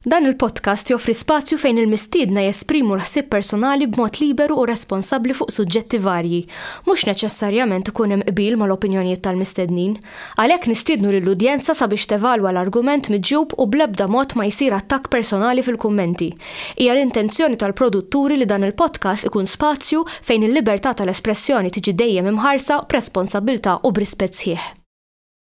Dan il-podcast joffri spazju fejn il-mistiedna jesprimu l-ħsieb personali b'mod liberu u responsabbli fuq suġġetti varji. Mhux neċessarjament ikun hemm qbil mal-opinjonijiet tal-mistednin. Għalhekk nistiednu lill-udjenza sabiex tevalwa l-argument miġjub u bl-ebda mod ma jsir attakk personali fil-kummenti. Hija l-intenzjoni tal-produtturi li dan il-podcast ikun spazju fejn il-libertà tal-espressjoni tiġi dejjem imħarsa b'responsabbiltà u b'rispett sħiħ.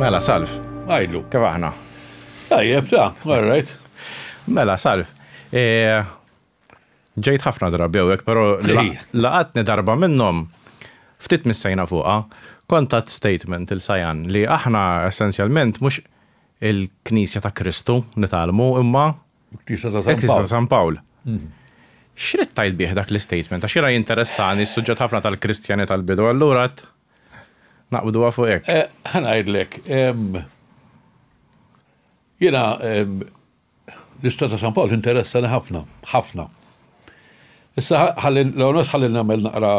Mela, Salv. Għajdu. Kif aħna? Tajjeb, ta, għarrajt. Mela, Salv. E, ġejt ħafna drabi għek, pero laqatni darba minnom ftit missajna fuqa, kontat statement il-sajan li aħna essenzjalment mux il-Knisja ta' Kristu nitalmu imma Il-Knisja ta' San Pawl. Il-Knisja ta' San Pawl. X'rid tgħid bih dak l-istatement? Għax jiena jinteressani s-suġġett ħafna tal-Kristjani tal-bidu, allura qed naqbduha fuq hekk. Eh, ħa ngħidlek, jiena l-Istat ta' San Pawl tinteressani ħafna, ħafna. Issa ħalli l-għonos ħalli nagħmel naqra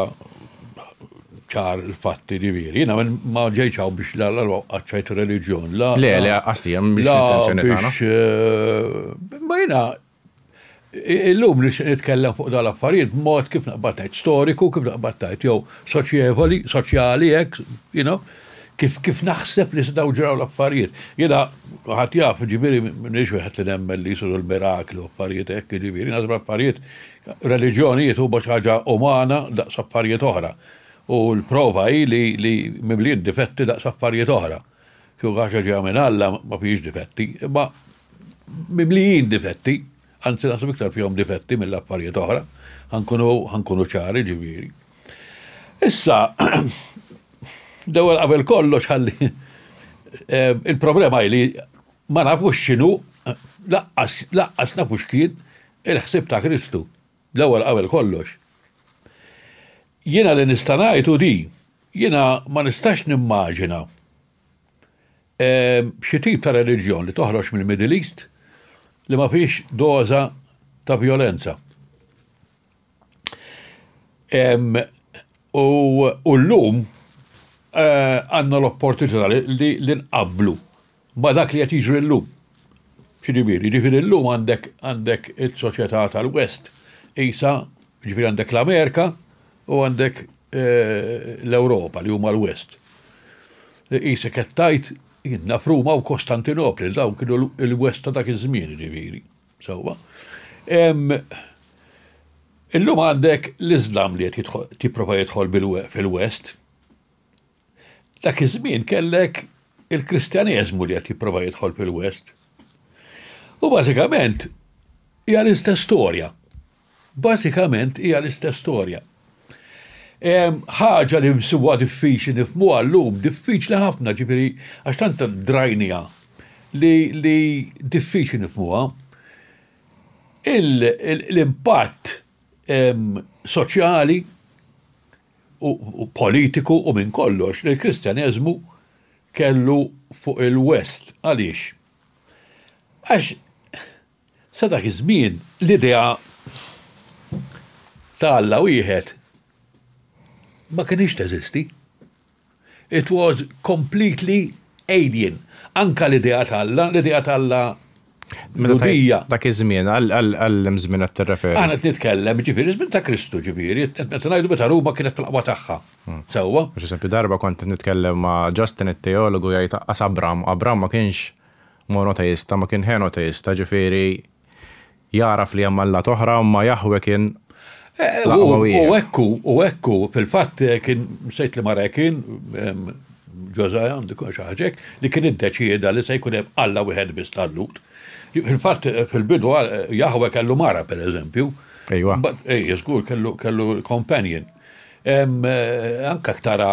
ċar il-fatti ġifieri. Jiena ma ġejċ hawn biex l-għalwa qaċċajt reliġjon. Le, le, qasti hemm biex l-intenzjoni tagħna. Eh, ma jiena illum li nitkellem fuq dal-affarijiet b'mod kif naqbad ngħid storiku, kif naqbad ngħid jew soċjevoli, soċjali hekk, you know, Kif, kif naħseb li setgħu ġraw l-affarijiet? Jiena, kulħadd jaf, jiġifieri m'iniex wieħed li nemmen li jsiru l-mirakli u affarijiet hekk, jiġifieri naħseb l-affarijiet, reliġjonijiet huma xi ħaġa umana daqs affarijiet oħra. U l-prova hi li, li mimlijin difetti daqs affarijiet oħra. Kieku xi ħaġa ġejja minn Alla ma fihiex difetti, imma mimlijin difetti. Anzi naħseb iktar fihom difetti mill affarijiet oħra, ħankunu ħankunu ċari ġifieri. Issa, l-ewwel qabel kollox ħalli eh, il-problema li ma nafux x'inhu laqqas laqqas nafu x'kien il-ħsib ta' Kristu. L-ewwel qabel kollox. Jiena li nista' ngħidu di, jiena ma nistax nimmaġina Xi tip ta' reliġjon li toħroġ mill-Middle East li ma fihiex doża ta' vjolenza. U llum għandna l-opportunità li nqabblu ma' dak li qed jiġri llum. X'jiġifieri? Jiġifieri llum għandek għandek is-soċjetà tal-West qisha, jiġifieri għandek l-Amerika, U għandek l-Ewropa li huma l-West. Qisek qed tgħid jidna f'Ruma u Kostantinopli, dawn kienu l-West ta' dak iż-żmien ġifieri. Sewwa. Illum għandek l-Iżlam li qed jipprova jidħol fil-West. Dak iż-żmien kellek il-Kristjaneżmu li qed jipprova jidħol fil-West. U bażikament hija l-istess storja. Bażikament hija l-istess storja. Ħaġa li nsibuha diffiċli nifhmuha llum, diffiċli ħafna ġifieri għax tant drajniha li diffiċli nifhmuha, l-impatt soċjali, u politiku u minn kollox li l-Kristjaneżmu kellu fuq il-West. Għaliex? Għax sa dak iż-żmien l-idea ta' Alla wieħed ma kinitx teżisti. It was completely alien. Anke l-idea t'Alla, l-idea t'Alla Lhudija. Dak iż-żmien, għal liem żmien qed tirreferi? Aħna qed nitkellem, ġifieri żmien ta' Kristu, ġifieri, qed ngħidu meta Ruma kienet fil-qwa tagħha. Sewwa? Għax eżempju darba kont qed nitkellem ma' Justin it-teologu jgħid aqqas Abram, Abram ma kienx monoteista, ma kien henoteista, ġifieri Jagħraf li hemm allat oħra, imma Jahweh kien l-aqwa wieħed. U hekk hu, u hekk hu. Fil-fatt kien, nsejt liema re kien, Ġożaja għandu jkun xi ħaġa hekk, li kien iddeċieda li se jkun hemm Alla wieħed biss tal-Lhud. Fil-fatt fil-bidu Jahweh kellu mara pereżempju. Ejwa. Ej, żgur kellu companion. Anke tara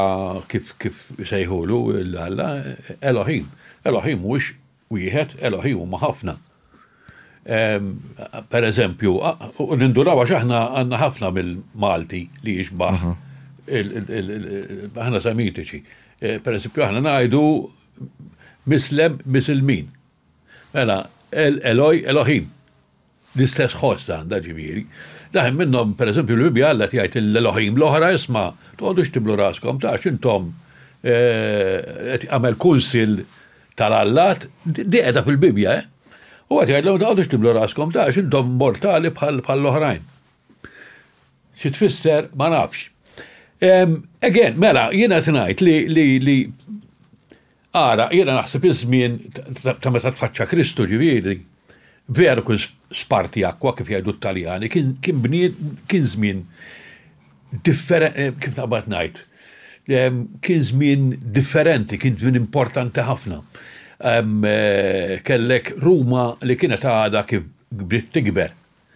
kif isejħulu l-Alla, Elohim. Elohim mhuwiex wieħed, Elohi huma ħafna. Per eżempju, u ninduraw għax aħna għandna ħafna mill-Malti li jixbaħ aħna semitiċi. E, per eżempju, aħna ngħidu mislem misilmin. Mela, Eloj, Elohim. L-istess ħoss għandha, ġifieri. Daħen minnhom, per eżempju, l-Bibbja Alla qed jgħid lil elohim l-oħra, Isma', toqgħodux tiblu raskom, tax intom qed jagħmel kunsill tal-allat, din qiegħda fil-Bibbja, eh. U qed jgħidlhom toqgħodux tiblu raskom, tax intom mortali bħall-oħrajn. Xi tfisser ma nafx. Again, mela, jiena qed ngħid li Ara, jiena naħseb iż-żmien ta' meta tfaċċa Kristu, ġifieri, veru kien spartiacqua, kif jgħidu t-Taljani, kien kien żmien kif naqbad ngħid, kien żmien differenti, kien żmien importanti ħafna. Kellek Ruma li kienet għadha kif bdiet tikber,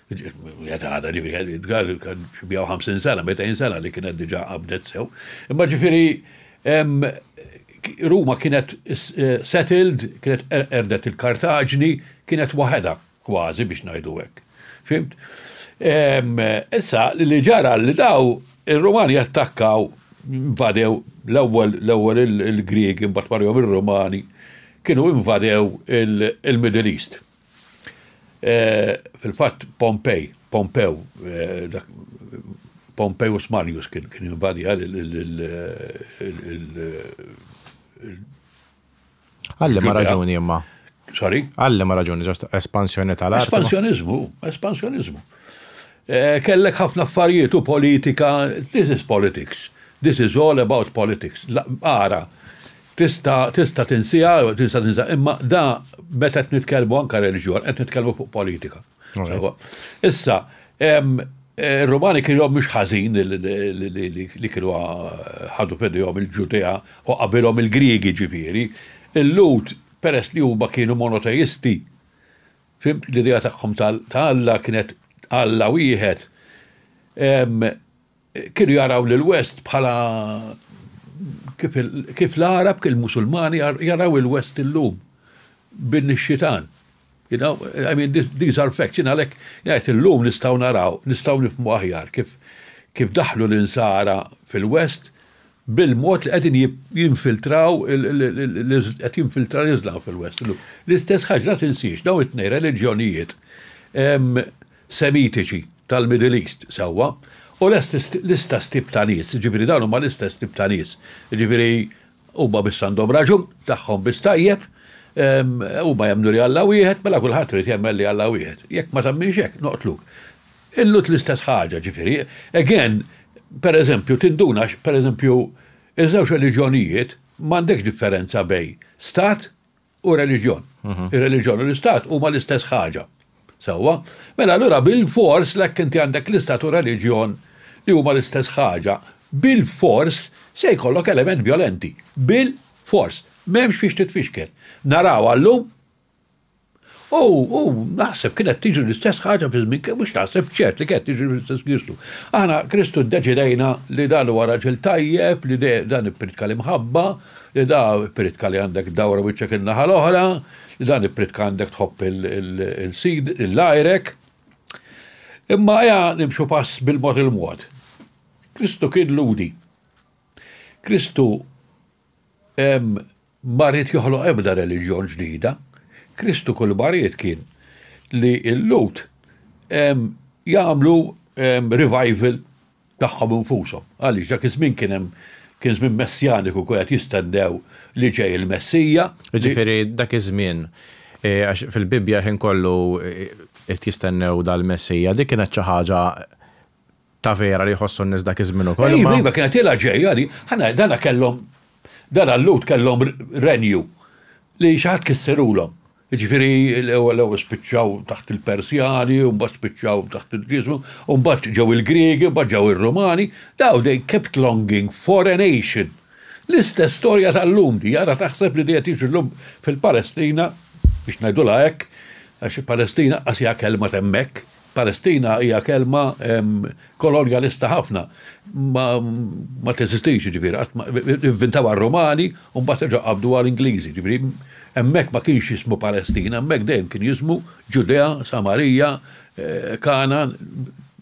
Jeta għada ġifiri għed jitgħal xibjaw 50 sena, 200 sena li kienet diġa għabdet sew. Imma ġifiri Ruma kienet eh, settled, kienet er-, erdet il-Kartaġni, kienet waħeda kważi biex najdu hekk. Fimt? Issa li ġara li daw il-Rumani attakkaw badew l-ewwel l-ewwel il-Griegi mbagħad marjom ir-Rumani kienu invadew il-Middle East. Eh, fil-fatt Pompej, Pompew, eh, dak Pompejus Marius kien kien invadi għal Għalli ma raġuni imma. Sorry? Għalli ma raġuni, ġast espansjoni tal-art. Espansjonizmu, espansjonizmu. Eh, kellek ħafna affarijiet u politika, this is politics. This is all about politics. Ara, Tista' tista' tinsiha, tista' tinsa, imma da meta qed nitkellmu anke reliġjon, qed nitkellmu fuq politika. Issa, Ir-Rumani kienu mhux ħażin li kienu ħadu f'idejhom il-Ġudea u qabilhom il-Griegi ġifieri. Il-Lhud peress li huma kienu monoteisti, fimt l-idea tagħhom ta' Alla kienet Alla wieħed, Kienu jaraw lill-West bħala kif l-Għarab, kif il-Musulmani jaraw il-West illum, bin ix-xitan. You know, I mean, these are facts. Jien għalhekk ngħid illum nistgħu naraw, nistgħu nifhmu aħjar kif daħlu l-Insara fil-West bil-mod li qegħdin jinfiltraw qed jinfiltra l-Iżlam fil-West illum. L-istess ħaġa, la tinsiex, dawn it-tnejn reliġjonijiet Semitiċi tal-Middle East, sewwa, u l-istess tip ta' nies, jiġifieri dawn huma l-istess tip ta' nies, jiġifieri huma biss għandhom raġun, tagħhom biss tajjeb, huma jemmnu li Alla wieħed, mela kulħadd irid jemmen li Alla wieħed. Jekk ma temminx hekk, noqtluk. Illu l-istess ħaġa, jiġifieri, again, pereżempju, tinduna x', pereżempju, iż-żewġ reliġjonijiet, m'għandekx differenza bejn stat u reliġjon. Mhm. Ir-reliġjon u l-istat huma l-istess ħaġa. Sewwa, mela allura bil-fors lek inti għandek l-istat u reliġjon li huma l-istess ħaġa, bil-fors se jkollok element violenti. Bil-fors. M'hemmx fiex titfixkel. Naraw għallum U, u, naħseb, kienet tiġri l-istess ħaġa fi żmien, mhux naħseb, ċert li kienet tiġri fl-istess Kristu. Aħna Kristu ddeċidejna li dan huwa raġel tajjeb, li dan ippritka l-imħabba, li da ippritka li għandek dawra wiċċek in-naħa l-oħra, li dan ippritka għandek tħobb il-sid, il-għajrek. Imma eja nimxu pass bil-mod il-mod. Kristu kien ludi. Kristu ma ried joħloq ebda reliġjon ġdida. Kristu kull ma ried kien li l-Lhud jagħmlu revival tagħhom infushom. Għaliex dak iż-żmien kien hemm kien żmien messjaniku kien qed jistennew li ġej il-Messija. Jiġifieri dak iż-żmien għax fil-Bibbja l-ħin kollu qed jistennew dal-Messija, dik kienet xi ħaġa Ta' vera li jħossu n-nies dak iż-żmien ukoll imma. Iva, iva, kienet ilha ġejja di. Ħa ngħid, dana kellhom, dana l-Lhud kellhom renju li xi ħadd kissirulhom. Jiġifieri l-ewwel l-ewwel spiċċaw taħt il-Persjani u mbagħad spiċċaw taħt il-Ġieżu u mbagħad ġew il-Griegi u mbagħad ġew ir-Rumani, daw they kept longing for a nation. L-istess storja tal-lum di, ara taħseb li di qed jiġri llum fil-Palestina, biex ngħidulha hekk, għax il-Palestina qas hija kelma t'hemmhekk, Palestina hija kelma kolonjalista ħafna. Ma teżistix jiġifieri, qatt ivvintawha r-Rumani u mbagħad reġgħu qabduha l-Ingliżi, jiġifieri hemmhekk ma kienx jismu Palestina, hemmhekk dejjem kien jismu Ġudea, Samarija, Kangħan,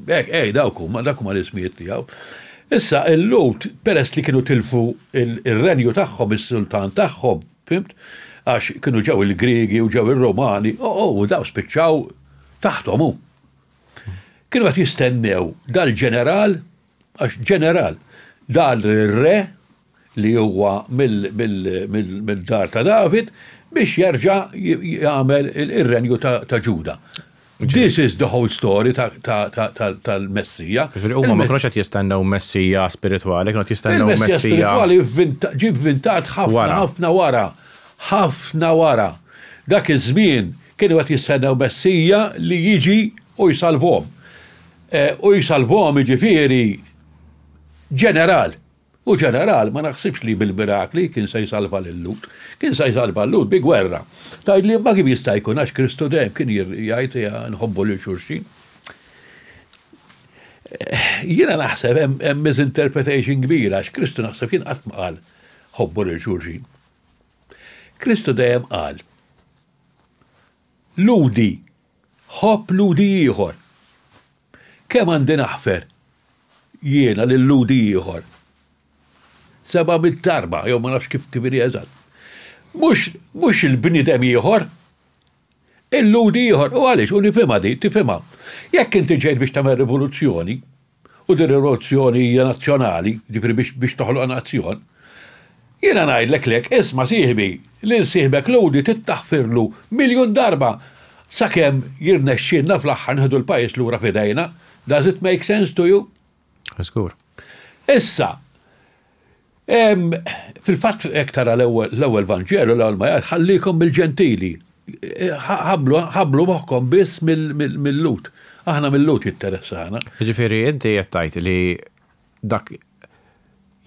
hekk hekk dawk huma, dawk huma l-ismijiet tiegħu. Issa il-Lhud peress li kienu tilfu r-renju tagħhom, is-sultan tagħhom, fhimt? Għax kienu ġew il-Griegi u ġew ir-Rumani, u dawn spiċċaw Taħthom hu. Kienu qed jistennew dal-ġeneral, għax ġeneral, dan ir-re li huwa mid-dar ta' David biex jerġa' jagħmel ir-renju ta' Ġuda. This is the whole story tal-Messija. Ġifieri huma ma kinux qed jistennew Messija spiritwali, kienu qed jistennew Messija. Il-Messija spiritwali ġie vvintat ħafna ħafna wara. Ħafna wara dak iż-żmien kienu qed jistennew Messija li jiġi u jsalvhom. U jsalvhom jiġifieri ġeneral. U ġeneral ma naħsibx li bil-mirakli kien se jsalva lil-Lhud. Kien se jsalva l-Lhud bi gwerra. Tgħidli imma kif jista' jkun għax Kristu dejjem kien jgħid nħobbu lil xulxin. Jiena naħseb hemm misinterpretation kbira għax Kristu naħseb jien qatt ma qal ħobbu lil xulxin. Kristu dejjem qal, Lhudi, ħobb Lhudi ieħor. Kemm għandi naħfer jiena lil Lhudi ieħor? Seba' mitt darba, jew ma nafx kif kif inhi eżatt. Mhux, mhux il-bniedem ieħor. Illudi ieħor. U għaliex? U nifhimha din, tifhimha. Jekk inti ġejt biex tagħmel rivoluzzjoni, u din ir-rivoluzzjoni hija nazzjonali, jiġifieri biex biex toħloq nazzjon, jiena ngħidlek lek, isma' sieħbi, lil sieħbek Lhudi trid taħfirlu miljun darba sakemm jirnexxielna fl-aħħar nieħdu l-pajjiż lura f'idejna. Does it make sense to you? Żgur. Issa, fil-fatt hekk tara l-ewwel Vanġelu l-ewwel ma jgħid ħallikom bil-ġentili. Ħablu moħħkom biss mill-lut. Aħna mill-lut jitteressana. Ġifieri inti qed tgħid li dak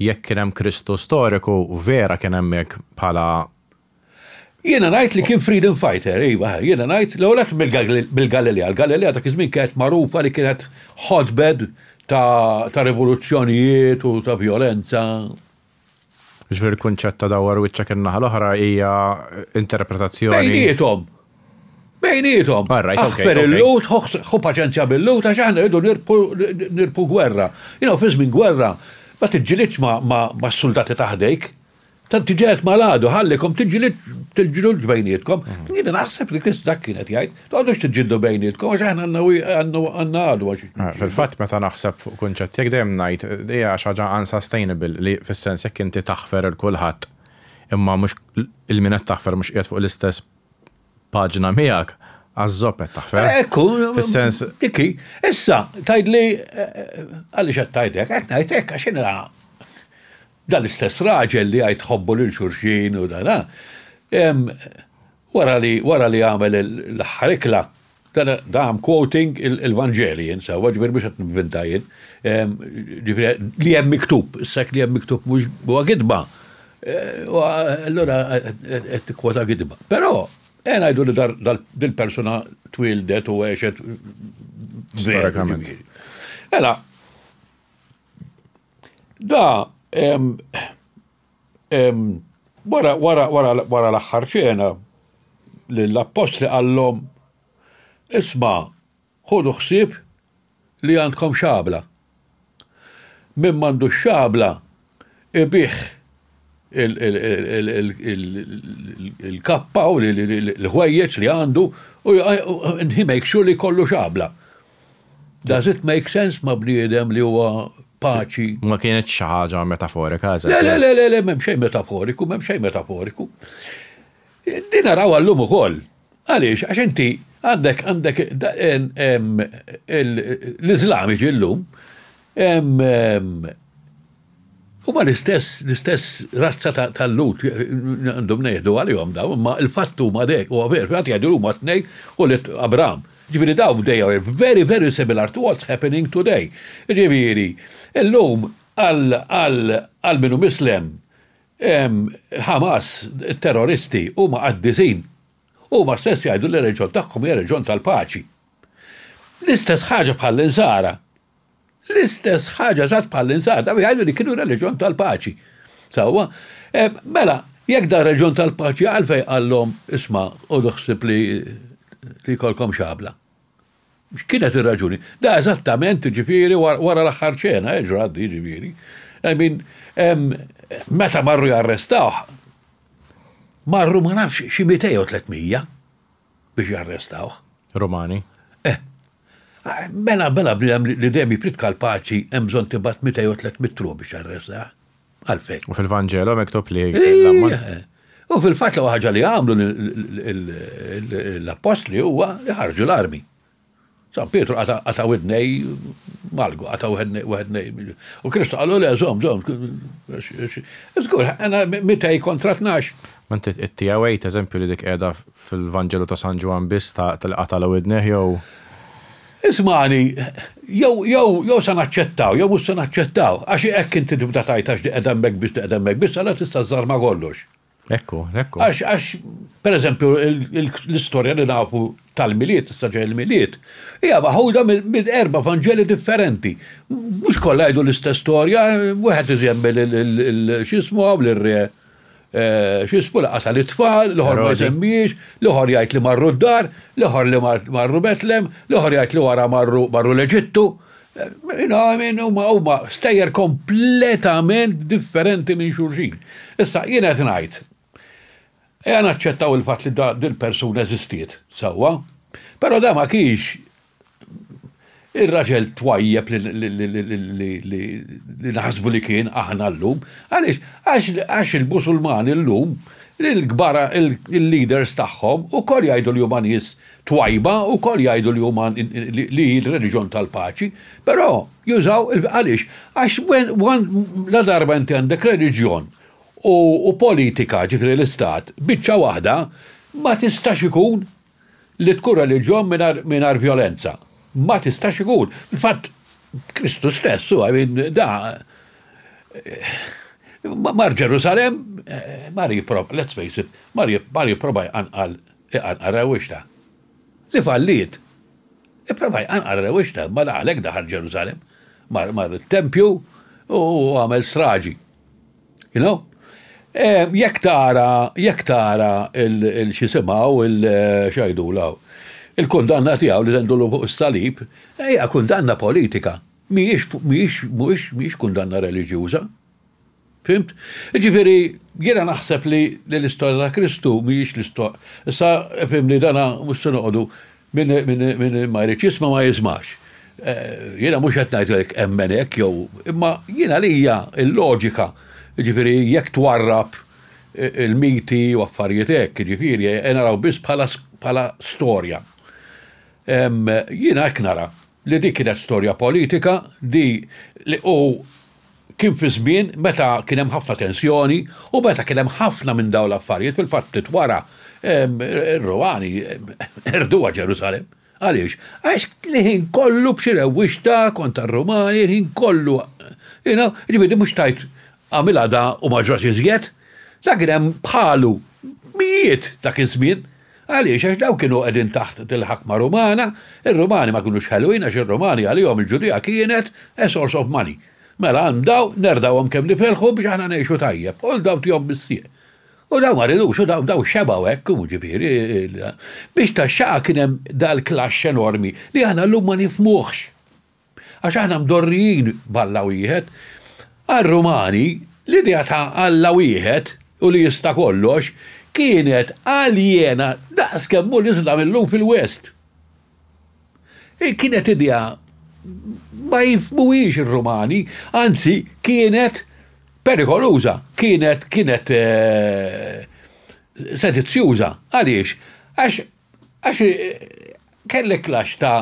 jekk kien hemm Kristu storiku vera kien hemmhekk bħala Jiena ngħid li kien freedom fighter, iva, jiena ngħid l-ewwel nett mill-Galilea, l-Galilea dak iż-żmien kienet magħrufa li kienet hotbed ta' rivoluzzjonijiet u ta' vjolenza. Jiġifieri l-kunċett ta' dawwar wiċċek in-naħa l-oħra hija interpretazzjoni. Bejniethom! Bejniethom! Aħfer il-Lhud, ħu paċenzja bil-Lhud għax aħna rridu nirbħu gwerra. You know, fi żmien gwerra ma tiġġilidx mas-suldati ta' ħdejk, Tant tiġi qed mal-għadu, ħallikom tiġġilid tiġġiludx bejnietkom. Jiena naħseb li Krist dak kien qed jgħid, toqgħodux tiġġieldu bejnietkom għax aħna għandna għadu għax. Fil-fatt meta naħseb fuq kunċett jekk dejjem ngħid hija xi ħaġa unsustainable li fis-sens jekk inti taħfer il kulħadd imma mhux il-min qed taħfer mhux qiegħed fuq l-istess paġna miegħek għaż-żopp qed taħfer. Ekku, fis-sens. Dikki, issa tgħidli għaliex qed tgħidek, qed ngħidek għax inra Dan l-istess raġel li jgħid ħobbu lil xulxin u dan, wara li wara li għamel l-aħħar ikla, dan I am quoting il-Vanġeli jien sewwa, ġifieri mhux qed nivvinta jien, ġifieri li hemm miktub, issa jekk li hemm miktub mhux huwa gidba, allura qed tikkwota gidba. Però, ejja ngħidu li dil-persuna twieldet u għexet veru ġifieri. Mela, Da wara l-aħħar ċena lill-appostli qallhom, Isma' ħudu ħsieb li għandkom xabla. Min m'għandux xabla ibigħ il-kappa u l-ħwejjeġ li għandu u he makes sure li jkollu xabla. Does it make sense ma' bniedem li huwa paċi? Ma kienitx xi ħaġa metaforika, eżatt. Le, le, le, le, le, m'hemm xejn metaforiku, m'hemm xejn metaforiku. Din narawha llum ukoll. Għaliex? Għax inti għandek għandek l-Iżlamiċi llum Huma l-istess, l-istess razza tal-Lhud, għandhom ngħidu għalihom dawn, imma l-fatt huma dek, huwa veru, xi ħadd jgħid li huma t-tnejn ulied Abraham. Jiġifieri dawn they are very, very similar to what's happening today. Jiġifieri, illum għal min hu mislem, Hamas, terroristi, huma qaddisin. Huma stess jgħidu li r-reliġjon tagħhom hija reliġjon tal-paċi. L-istess ħaġa bħall-Insara. L-istess ħaġa eżatt bħal insata u jgħidu li kienu reliġjon tal-paċi. Sewwa? Eh, mela, jekk da reliġjon tal-paċi għalfej qallhom isma' u doħsib li li jkollkom xabla. X'kienet ir-raġuni? Da eżattament ġifieri wara l-aħħar ċena, eh, ġrat di ġifieri. I mean, meta marru jarrestawh, marru ma nafx xi 200 u 300. biex jarrestawh. Romani. Eh. Mela, mela bniedem li dejjem jipritka l-paċi hemm bżonn tibgħat 200 jew 300 truq biex jarrestah. Għalfejn. U fil-Vanġelo mektob li U fil-fatt l ħaġa li għamlu l-appostli huwa li ħarġu l-armi. San Pietru qata' qata' widnej Malgu, qata' wednej. U Kristu qallu le żomm, żomm, għax żgur għandna mitej kontra tnax. Ma inti qed tiegħu għid eżempju li dik qiegħda fil-Vanġelu ta' San Ġwann biss ta' li qatagħlu widnejh jew. Ismagħni, jew jew jew se naċċettaw jew mhux se naċċettaw, għax hekk inti tibda tgħid għax di qiegħda hemmhekk biss di qiegħda hemmhekk biss allura tista' żżarma kollox. Ekku, ekku. Għax, għax, per eżempju, l-istorja li nafu tal-miliet, istaġa il-miliet, hija maħuda minn erba vangeli differenti. Mhux kollha jgħidu l-istess storja, wieħed iżemmi l-xismu għaw l-re eh, xismu li qasal it-tfal, l-ħor ma jżemmiex, l-ħor jgħid li marru d-dar, l-ħor li marru Betlem, l-ħor jgħid li wara marru l-Eġittu. You know, I mean, huma huma stejjer kompletament differenti minn xulxin. Issa jien qed ngħid, ejja naċċettaw il-fatt li da dil-persuna eżistiet, sewwa, però da ma kienx ir-raġel twajjeb li naħsbu li kien aħna llum. Għaliex? Għax il-Musulmani llum il-kbar il-leaders tagħhom ukoll jgħidu li huma nies twajba wkoll jgħidu li huma li hi l-reliġjon tal-paċi, però jużaw għaliex? Għax la darba inti għandek reliġjon u politika ġifieri l-istat biċċa waħda ma tistax ikun li tkun reliġjon mingħajr vjolenza. Ma tistax ikun. Fil-fatt Kristu stess huwa da mar Ġerusalemm mar let's face it mar jipprova jqanqal Iqanqar rewwixta. Li falliet. Ipprova jqanqar rewwixta, bada għalhekk daħal Ġerusalemm. Mar mar it-tempju u għamel straġi. You know? Ehm, jekk tara, jekk tara il-xisimaw, il-xajdula, il-kundanna tiegħu li tendulu fuq is-salib, hija kundanna politika. Mhijiex, mhijiex, mhijiex, mhijiex kundanna reliġjuża. Fhimt? Jiġifieri, jiena naħseb li l-istorja ta' Kristu mhijiex l-istor. Issa, fhimni, dan mhux se noqogħdu min min min ma jridx jisma' ma jismax. Jiena mhux qed ngħidlek emmen hekk jew, imma jien għalija l-loġika, jiġifieri jekk twarrab il-miti u affarijiet hekk, jiġifieri, naraw biss bħala bħala storja. Jiena hekk nara. li dik kienet storja politika li li u kien fi żmien meta kien hemm ħafna tensjoni u meta kien hemm ħafna minn dawn l-affarijiet fil-fatt ftit wara r-Rumani qerduha Ġerusalemm. Għaliex? Għax l-ħin kollu b'xi rewwixta kontra r-Rumani, il-ħin kollu you know, jiġifieri mhux tgħid għamilha da u ma ġrax iżjed, da kien hemm bħalu mijiet dak iż-żmien. Għaliex? Għax dawk kienu qegħdin taħt il-ħakma Rumana, ir-Rumani ma kinux ħelwin għax ir-Rumani għalihom il-Ġudea kienet a source of money. Mela għand dawn nerdgħuhom kemm niferħu biex aħna ngħixu tajjeb, hold dawn tihom bis-sieq. U dawn ma ridux u dawn dawn xebgħu hekk, u ġifieri biex tax-xaqa kien hemm dal-clash enormi li aħna llum ma nifhmuhx. Għax aħna mdorrijin b'Alla wieħed. Għar-Rumani, l-idea ta' Alla wieħed u li jista' kollox kienet aljena daqs kemm hu l-Islam illum fil-West. Kienet idea ma jifhmuhiex ir-Rumani, anzi kienet perikoluża, kienet kienet sedizzjuża. Għaliex? Għax għax kellek klaxx ta'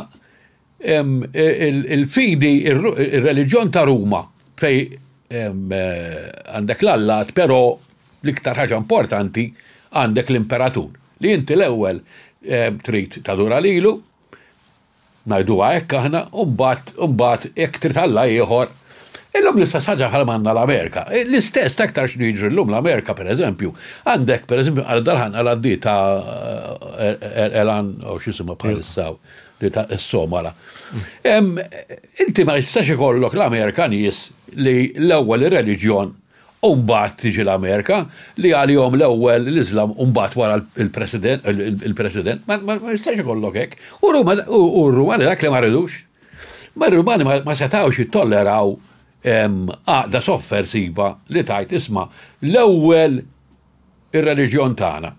Il-fidi, ir-reliġjon ta' Ruma fej għandek l-allat però l-iktar ħaġa importanti għandek l-imperatur li inti l-ewwel trid tadura lilu, ngħiduha hekk aħna, u mbagħad u mbagħad jekk trid alla ieħor. Illum l-istess ħaġa bħal ma għandna l-Amerika. L-istess aktar x'inhu jiġri llum l-Amerika pereżempju. Għandek pereżempju għal darħan għal għaddi ta' Elan u x'isimha bħalissa. Yeah li ta' s-Somala. Inti ma jistax ikollok l-Amerika nies li l-ewwel ir-reliġjon u mbagħad tiġi l-Amerika li għalihom l-ewwel l-Iżlam u mbagħad wara l-President il-President ma jistax ikollok hekk. U r-Rumani dak li ma ridux. Ma r-Rumani ma setgħux jittolleraw għaqda soffersiva li tajt isma' l-ewwel ir-reliġjon tagħna.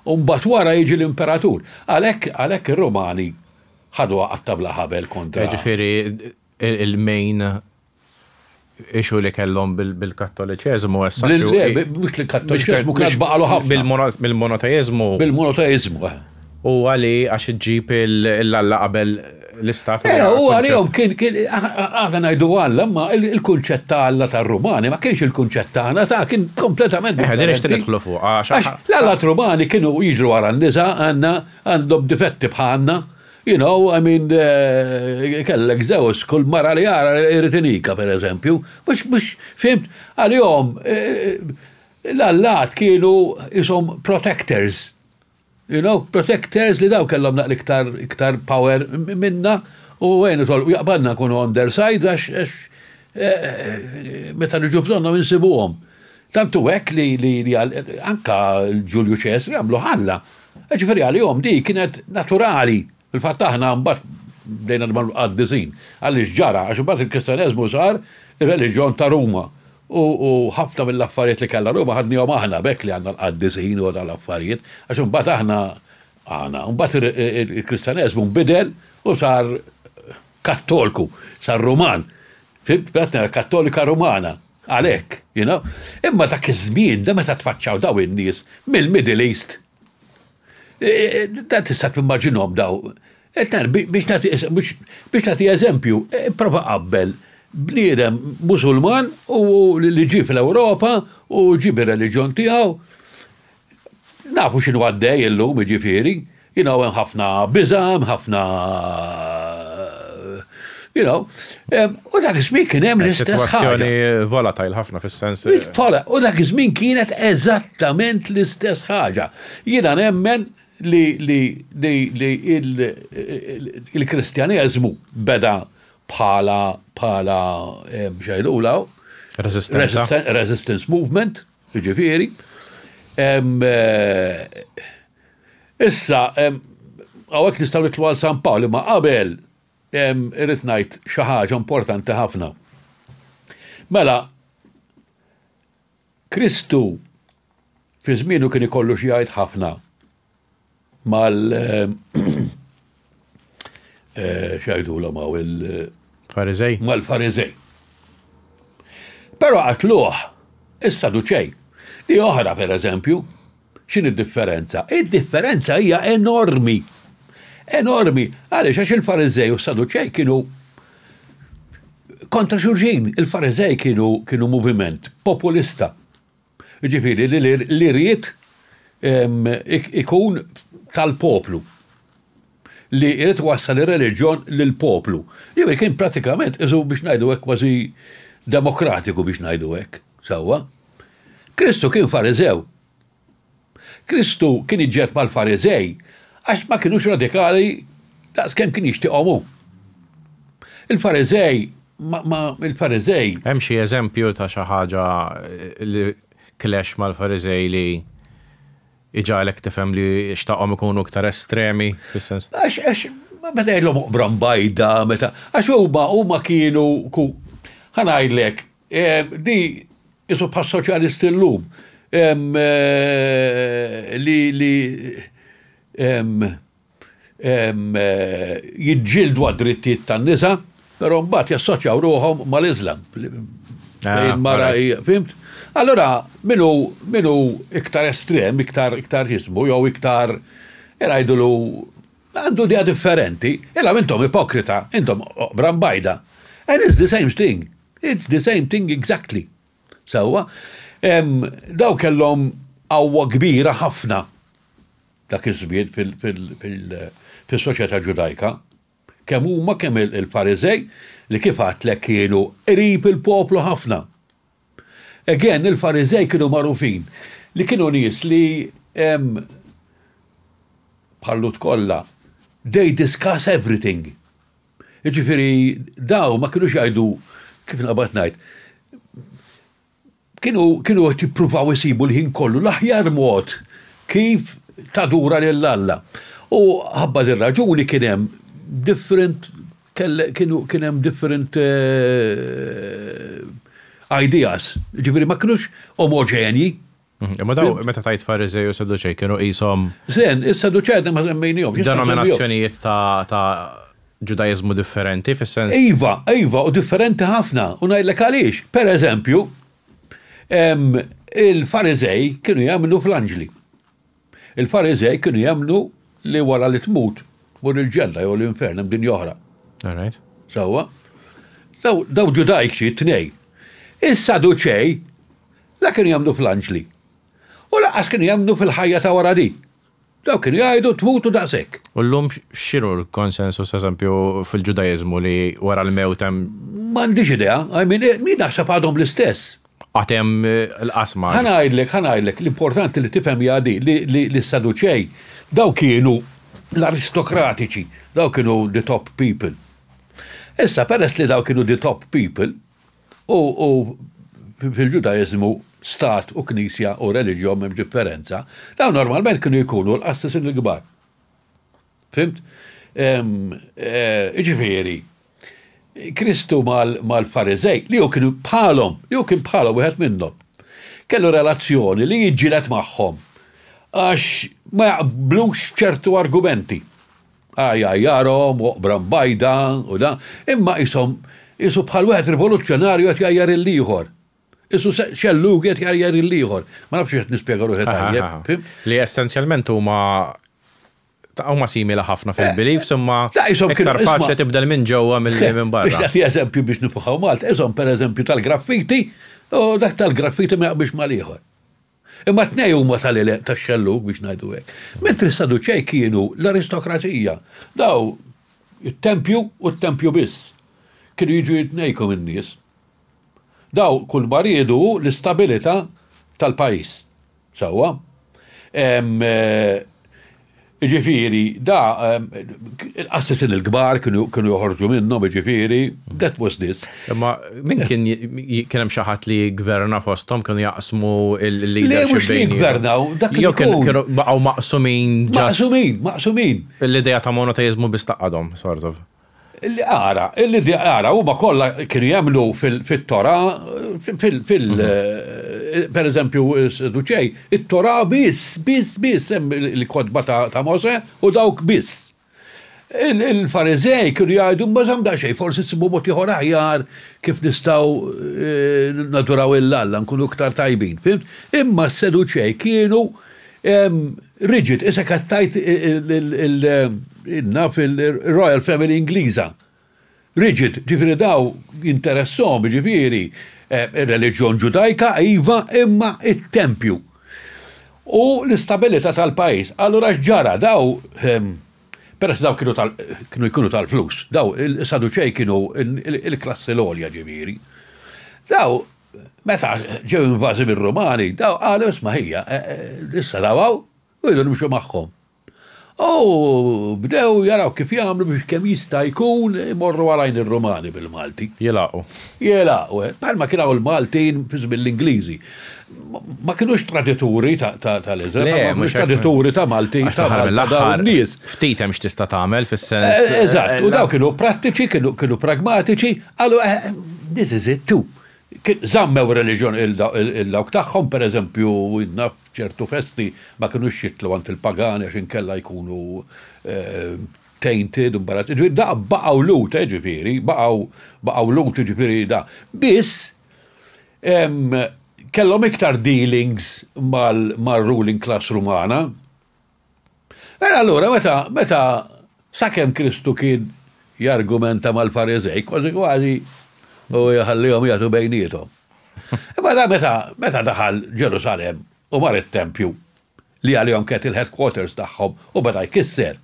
U mbagħad wara jiġi l-imperatur. Għalhekk, għalhekk ir-Rumani ħaduha qatta' bla ħabel kontra. Jiġifieri il-main issue li kellhom bil-Kattoliċeżmu as such hu. Le, le, mhux l-Kattoliċeżmu kien għad baqgħalu ħafna. Bil-monoteiżmu. Bil-monoteiżmu, eħe. Huwa li għax iġġib il-Alla qabel l-istat. Eh, u għalihom kien, għana najdu għalla, ma il-kunċett ta' għalla ta' rumani ma kienx il-kunċett ta' għana ta' kien kompletament. Eh, għadin ixtin idħlu fuq. Ah, l-għalla rumani kienu jiġru għara n-nisa għanna għandhom difetti bħanna. You know, I mean, eh, kellek zewż, kull mara li għara irritinika, per eżempju, mux, mux, fimt, għal-jom, eh, l-allat kienu jisom protectors You know, protectors li daw kellhom naqra iktar iktar power minna u għenu tolqu jaqbadna nkunu on their side għax għax meta niġu bżonnhom insibuhom. Tant hu hekk li li li anka Ġulju Ċesri għamlu ħalla. Jiġifieri għalihom dik kienet naturali. Fil-fatt aħna mbagħad bdejna nibgħu l-qaddisin. Għaliex ġara? Għax imbagħad il-Kristaneżmu sar ir-reliġjon ta' Ruma U ħafna mill-affarijiet li kellha Ruma ħadniehom aħna, b'hekk li għandna l-qaddisin u tal-affarijiet, għax imbagħad aħna għana. Imbagħad il-Kristjaneżmu nbidel u sar Kattolku, sar Ruman. Fimt? B'għatna Kattolika Rumana. Għalhekk, you know. Imma dak iż-żmien, da meta tfaċċaw daw in-nies mill-Middle East, Da tista' timmaġinhom daw. Biex nagħti eżempju, prova qabbel bniedem Musulman u li ġie fl-Ewropa u ġie bir-reliġjon tiegħu. Nafu x'inhu għaddej illum, jiġifieri, hemm ħafna biża', hemm ħafna You know, um, u dak iż-żmien kien hemm l-istess ħaġa. volatile ħafna fis-sens. Vola, u dak iż-żmien kienet eżattament l-istess ħaġa. Jiena nemmen li li li il-Kristjaneżmu beda bħala bħala xejlula resistance movement, ġifieri. Eh, issa, għawek nistaw nitlu għal San Pawl, ma qabel Irrid ngħid xi ħaġa importanti ħafna. Mela, Kristu fi żmienu kien ikollu xi jgħid ħafna mal eh, xajdu l għaw il Farizej. Mal-Farizej. Pero għatluħ, issa duċej. Di oħra, per eżempju, X'inhi d-differenza? Id-differenza hija enormi. Enormi. Għaliex? Għax il-Fariżej u s-Saduċej kienu kontra xulxin. Il-Fariżej kienu kienu moviment populista. Ġifieri li li ried ikun tal-poplu. li jrid iwassal ir-reliġjon lill-poplu. Jiġifieri kien prattikament qisu biex ngħidu hekk kważi demokratiku biex ngħidu hekk, sewwa. Kristu kien Fariżew. Kristu kien iġġed mal-Fariżej għax ma kinux radikali daqs kemm kien jixtieqhom hu. Il-Fariżej ma, ma, il-Fariżej. Hemm xi eżempju ta' xi ħaġa li clash mal-Fariżej li Iġagħlek tifhem li xtaqhom ikunu iktar estremi, fis-sens. Għax, għax, meta jgħidlhom oqbra mbajda, meta, għax huma, huma kienu, ku, ħa ngħidlek, di isu bħas-soċjalisti llum, li, li, jiġġieldu għad-drittijiet tan-nisa, però mbagħad jassoċjaw ruħhom mal-Iżlam. Ah, mara fimt? Allora, minu, minu iktar estrem, iktar, iktar jismu, jew iktar, jrajdulu, għandu dija differenti, illa intom ipokrita, intom brambajda. And it's the same thing. It's the same thing exactly. Sewa, daw kellhom għawwa kbira ħafna Dak iż-żmien fis-soċjetà Ġudajka, kemm huma kemm il-Fariżej li kif għadtlek kienu qrib il-poplu ħafna. Again, il-Fariżej kienu magħrufin li kienu nies li bħal-Lhud kollha, they discuss everything. Jiġifieri dawn ma kinux jgħidu, kif nqabad ngħid, Kienu kienu qed jippruvaw isibu l-ħin kollu l-aħjar mod kif tadura lil Alla. U ħabba dir-raġuni kien hemm different kienu kien hemm different ideas. Jiġifieri ma kinux omoġenji. Imma daw meta tgħid Fariżej u Saduċej kienu qishom. Żen, is-Saduċej għadna ma semmejnihomx. Denominazzjonijiet ta' Ġudaiżmu differenti, fis-sens. Iva, iva, u differenti ħafna, u ngħidlek għaliex. Per eżempju, il-Fariżej kienu jemmnu fl-anġli. Il-Fariżej kienu jemmnu li wara li tmut tmur il-ġenna jew l-infern hemm din oħra. Sewwa. Daw ġudajċi t-tnej. Is-Saduċej la kienu jemmnu fl-anġli. U laqas kienu jemmnu fil-ħajja ta' wara di. Dawk kienu jgħidu, Tmutu daqshekk! U llum x'inhu l-konsensus, eżempju, fil-Ġudaiżmu li wara l-mewt hemm. M'għandix idea. I mean, jien naħseb għadhom l-istess. Għad hemm l-qasma. Ħa ngħidlek, ħa ngħidlek, l-importanti li tifhem hija di, li s-Saduċej, dawk kienu l-aristokratiċi, dawk kienu the top people. Issa, peress li dawk kienu the top people, U, u, fil-Ġudaiżmu, stat u knisja u reliġjon m'hemmx differenza, dawn normalment kienu jkunu l-qassisin il-kbar. Fimt? Iġifieri, Kristu mal-Fariżej, li hu kien bħalhom, li hu kien bħalhom wieħed minnhom, kellu relazzjoni li jiġġieled magħhom għax ma jaqblux b'ċertu argumenti. għajjarhom, oqbra mbajda u da, imma qishom, qisu bħal wieħed rivoluzzjonarju qed jgħajjar lill-ieħor. Qisu xellugi qed jgħajjar lill-ieħor. Ma nafx jekk qed nispjega ruħi tajjeb, fhimt? Li essenzjalment huma huma simili ħafna fil-beliefs imma iktar faċli tibdel minn ġewwa milli minn barra. Biex tagħti eżempju biex nifuħaw Malta, qishom pereżempju tal-graffiti, u dak tal-graffiti ma jaqbilx mal-ieħor. Imma t-tnejn huma tal-għeleq tax-xellug, biex ngħidu hekk. Mentri s-Saduċej kienu l-aristokrazija. Daw, it-tempju u t-tempju biss. Kienu jiġu jitnejku min-nies. Daw kull ma riedu hu l-istabilità tal-pajjiż. Sewwa? Iġifiri, da, l-qassisin il-kbar kienu joħorġu minnhom, iġifiri, that was this. Imma min kien kien hemm xi ħadd li gverna fosthom kienu jaqsmu l-leadership bejn. Gvernaw, dak li kienu baqgħu maqsumin. Maqsumin, maqsumin. L-idea ta' monoteizmu biss taqadhom, sort of. Ara, ara, huma kollha kienu jemmnu fit-Torah, fil-, per eżempju, Saduċej, it-Torah biss, biss, biss, hemm il-kotba ta' Mosè u dawk biss. Il-Fariżej kienu jgħidu, ma żamm daqsxejn, forsi nsibu mod ieħor aħjar kif nistgħu naduraw lil Alla, nkunu iktar tajbin, fhimt? Imma s-Saduċej kienu Rigid, issa kattajt naf il-Royal Family Ingliża. Rigid, ġifieri daw jinteressom, ġifieri eh, ir-reliġjon Ġudajka iva imma it-tempju. U l-istabilità tal-pajjiż. Allura x'ġara daw ehm, peress daw kienu tal kienu jkunu tal-flus, daw is-Saduċej kienu il-klassi l-għolja ġifieri. Daw Meta ġew invażi mir-Rumani, daw qalu isma' ħija, e, e, issa daw hawn u jridu nimxu magħhom. U bdew jaraw kif jagħmlu biex kemm jista' jkun imorru għalajn ir-Rumani bil-Malti. Jilagħqu. Jilagħqu, eh. Bħalma kien hawn il-Maltin fi żmien l-Ingliżi. Ma kinux tradituri tal-Iżrael, ma kinux tradituri ta' Malti, ta' Malta, nies. Ftit hemm x'tista' tagħmel fis-sens. Eh, eżatt, u daw kienu prattiċi, kienu pragmatiċi, Qalu, eh, this is it too. Żammew reliġjon il-dawk tagħhom, pereżempju, naf ċertu festi ma kinux jitlu għand il-pagani għax inkella jkunu eh, tainted, imbarazzati. Ġifieri da baqgħu lut, eh, ġifieri, baqgħu baqgħu lut, ġifieri da. Biss kellhom iktar dealings mal-ruling class Rumana, Mela allura meta meta sakemm Kristu kien jargumenta mal-Fariżej kważi kważi u jħallihom jagħtu bejniethom. Imma da meta meta daħal Ġerusalem u mar it-tempju li għalihom kienet il-headquarters tagħhom u beda jkisser.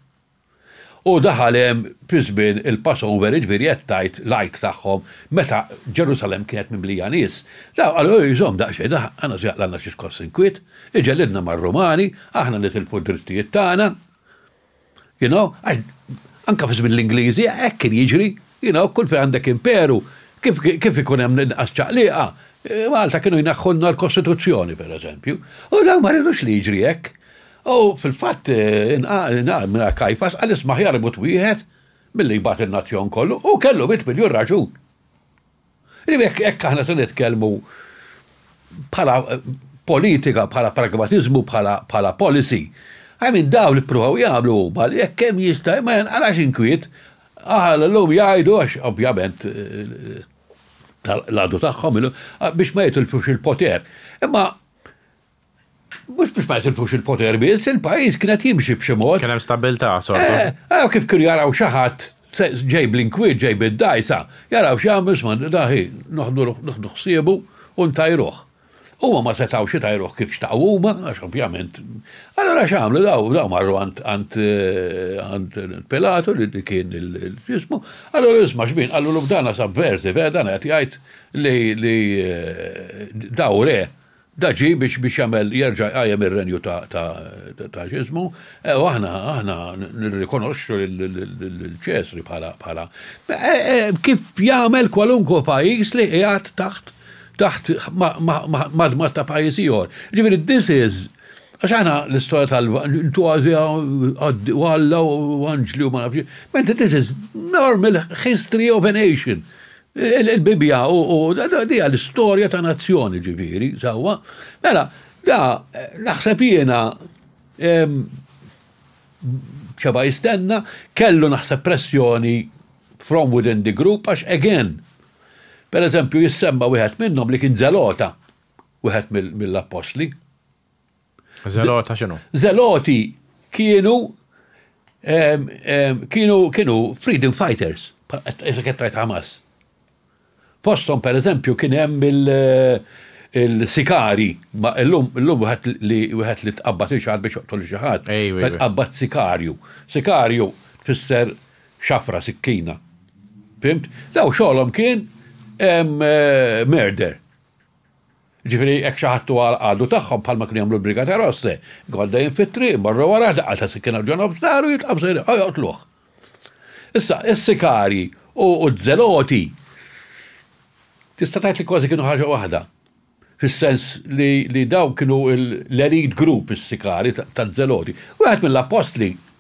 U daħal hemm fi żmien il-Passover, jiġifieri qed tgħid l-Għid tagħhom, meta Ġerusalemm kienet mimlija nies. Dawn qalu, Ejjew iżomm daqsxejn, aħna se jaqlalna xi skoss inkwiet, iġellidna mar-Rumani, aħna nitilfu d-drittijiet tagħna. You know, għax anke fi żmien l-Ingliżi hekk kien jiġri, you know, kull fejn għandek imperu, kif kif ikun hemm inqas ċaqlieqa, Malta kienu jneħħulna l-Kostituzzjoni, pereżempju. U dawn ma ridux li jiġri hekk. U fil-fatt, mingħajr Kajfas, qal isma' aħjar imut wieħed milli jbagħat in-nazzjon kollu, u kellu mitt miljun raġun. Jiġifieri jekk hekk aħna se nitkellmu bħala politika, bħala pragmatiżmu, bħala policy, I mean dawn li ppruvaw jagħmlu huma li jekk kemm jista' ma jinqalax inkwiet, aħna llum jgħidu għax ovvjament l-għadu tagħhom biex ma jitilfux il-poter. Imma Mhux biex ma jitilfux il-poter biss, il-pajjiż kien qed jimxi b'xi mod. Kien hemm stabbiltà sorta. Eh, eh, kif kienu jaraw xi ħadd ġej bl-inkwiet, ġej bid-dgħajsa, jaraw x'jagħmlu, isma' da hi, noħdu ħsiebu u ntajruh. Huma ma setgħux itajruh kif xtaqu huma, għax ovvjament. Allura x'għamlu daw, daw marru għand eh, Pilatu li kien il-ġismu, allura isma' xbin, qallu l-ubdana sab versi, vera dan qed jgħid li eh, daw re Da ġie biex biex jagħmel jerġa' jqajjem ir-renju ta' ta' ta' x'ismu, ew aħna aħna nirrikonoxxu lil Ċesri bħala bħala kif jagħmel kwalunkwe pajjiż li qiegħed taħt taħt madmad ta' pajjiż ieħor. Jiġifieri this is għax aħna l-istorja tal u Alla u anġli u ma nafx xi, mentre this is normal history of a nation. Il-Bibbja u dija l-istorja ta' nazzjoni ġifieri, sewwa. Mela, da naħseb jiena xeba jistenna, kellu naħseb pressjoni from within the group għax again, pereżempju jissemma wieħed minnhom li kien Zelota, wieħed mill-appostli. Zelota x'inhu? Zeloti kienu ehm, ehm, kienu kienu freedom fighters, qed qed Hamas. Postom per eżempju kien hemm il-sikari, ma illum illum wieħed li wieħed li tqabbad il xaħat biex joqtol xi ħadd, tqabbad sikarju. Sikarju tfisser xafra sikkina. Fimt? Daw xogħolhom kien eh, murder. Ġifieri hekk xi ħadd huwa l-għadu tagħhom bħalma kienu jagħmlu l-Brigate Rosse. Jkun għaddejjin fit-triq, imorru warajh, daqqa ta' sikkina f'ġonobs dahru jiltqgħu sejrin ħa joqtluh. Issa, is-sikarji u z-zeloti tista' tgħid li kważi kienu ħaġa waħda. Fis-sens li dawk kienu l-elite group is-sikarji taz-zeloti. Wieħed mill-appostli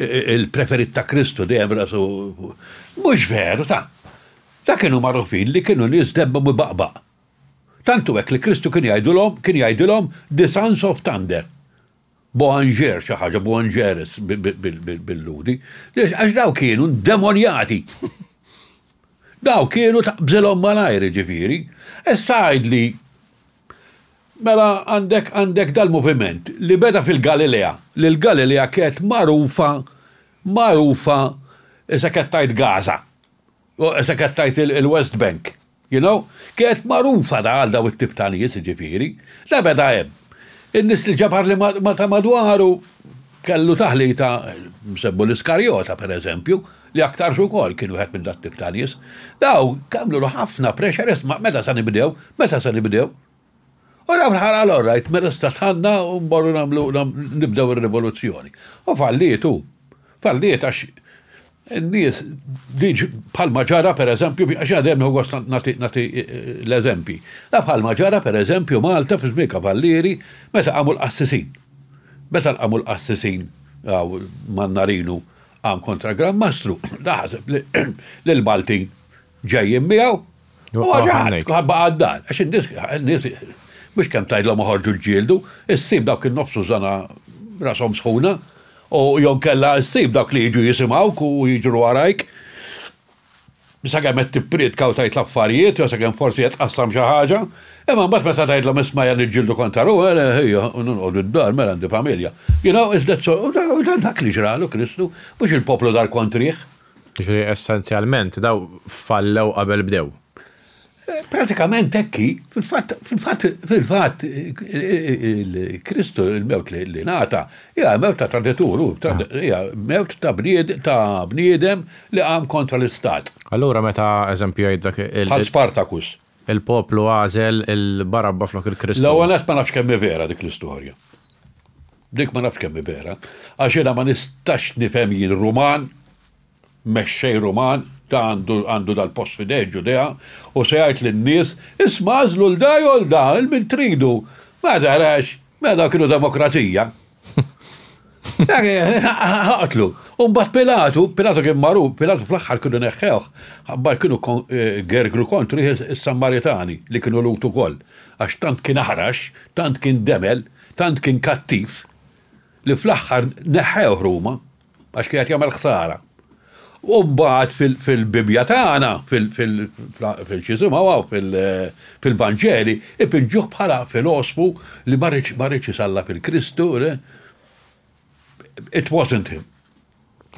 il-preferit ta' Kristu dejjem rasu mhux veru ta' ta' kienu magħrufin li kienu nies debba u baqbaq. Tantu hekk li Kristu kien jgħidulhom kien jgħidilhom the sons of thunder. Boanger xi ħaġa Boangeres bil-Lhudi. Għax daw kienu demonjati. Daw kienu taqbżilhom malajr ġifieri. Issa għidli Mela għandek għandek dal-moviment li beda fil-Galilea, li l-Galilea kienet magħrufa magħrufa issa qed tgħid Gaza, issa qed tgħid il-West Bank, you know, kienet magħrufa da għal daw it-tip ta' nies jiġifieri, da beda hemm. In-nies li ġabar li ma ta' madwaru kellu taħlita msemmu l-Iskarjota pereżempju, li aktarx ukoll kien wieħed minn dat tip ta' nies, daw għamlulu ħafna pressure isma' meta se nibdew, meta se nibdew. U daw fl-aħħar qal all right, mela issa tħallna u mmorru nagħmlu nibdew ir-rivoluzzjoni. U falliet hu. Falliet għax in-nies diġ bħalma ġara per eżempju, għax jiena dejjem nieħu gost nagħti nagħti l-eżempji. Naf bħalma ġara per eżempju Malta fi żmien Kavallieri meta qamu l-qassisin. Meta l-qamu l-qassisin hawn Mannarinu Qam kontra l-Gran Mastru, daħseb li l-Maltin ġejjin miegħu. U għagħad, għabba għaddan, għax n-nis, mux kem tajdlom uħorġu ġildu, s-sib dawk il-nofsu zana rasom sħuna, u jon kella s-sib dawk li jġu jisimaw ku jġru għarajk. sakemm qed tippriedka u tgħid l-affarijiet jew sakemm forsi qed tqassam xi ħaġa, imma mbagħad meta tgħidlhom isma' qiegħed niġġieldu kontra ruħi, le, ejja, nqogħdu d-dar, mela għandi familja. You know, is that so? U dak li ġralu Kristu, mhux il-poplu dar kontrih. Jiġifieri essenzjalment dawn fallew qabel bdew. Pratikament hekk hi, fil-fatt, fil-fatt, fil-fatt, Kristu il-mewt li nata, hija mewt ta' traditur, ah. hija mewt ta' bnied ta' bniedem li qam kontra l-istat. Allura meta eżempju jgħid dak il- Bħal Spartacus. Il-poplu għażel il-Barabba flok il-Kristu. L-ewwel ma nafx kemm vera dik l-istorja. Dik ma nafx kemm vera, għax jiena ma nistax nifhem jien Ruman Mexxej Ruman ta' għandu dal-post f'idejh Ġudea, u se jgħid lin-nies, 'Isma' għażlu 'l da jew 'l da, 'il min tridu. Ma tarax, mela dawn kienu demokrazija. Aqtlu. U mbagħad Pilatu, Pilatu kien magħruf, Pilatu fl-aħħar kienu neħħewh, ħabbar kienu gergru kontrih is-Sammaritani li kienu Lhud ukoll, għax tant kien aħrax, tant kien demel, tant kien kattiv, li fl-aħħar neħħewh Ruma. għax kien qed jagħmel ħsara. U mbagħad fil-Bibbja tagħna, fil-xisimgħu hawn fil-Vanġeli, ipiġġuh bħala filosfu li ma rridx isallab il-Kristu. It wasn't him.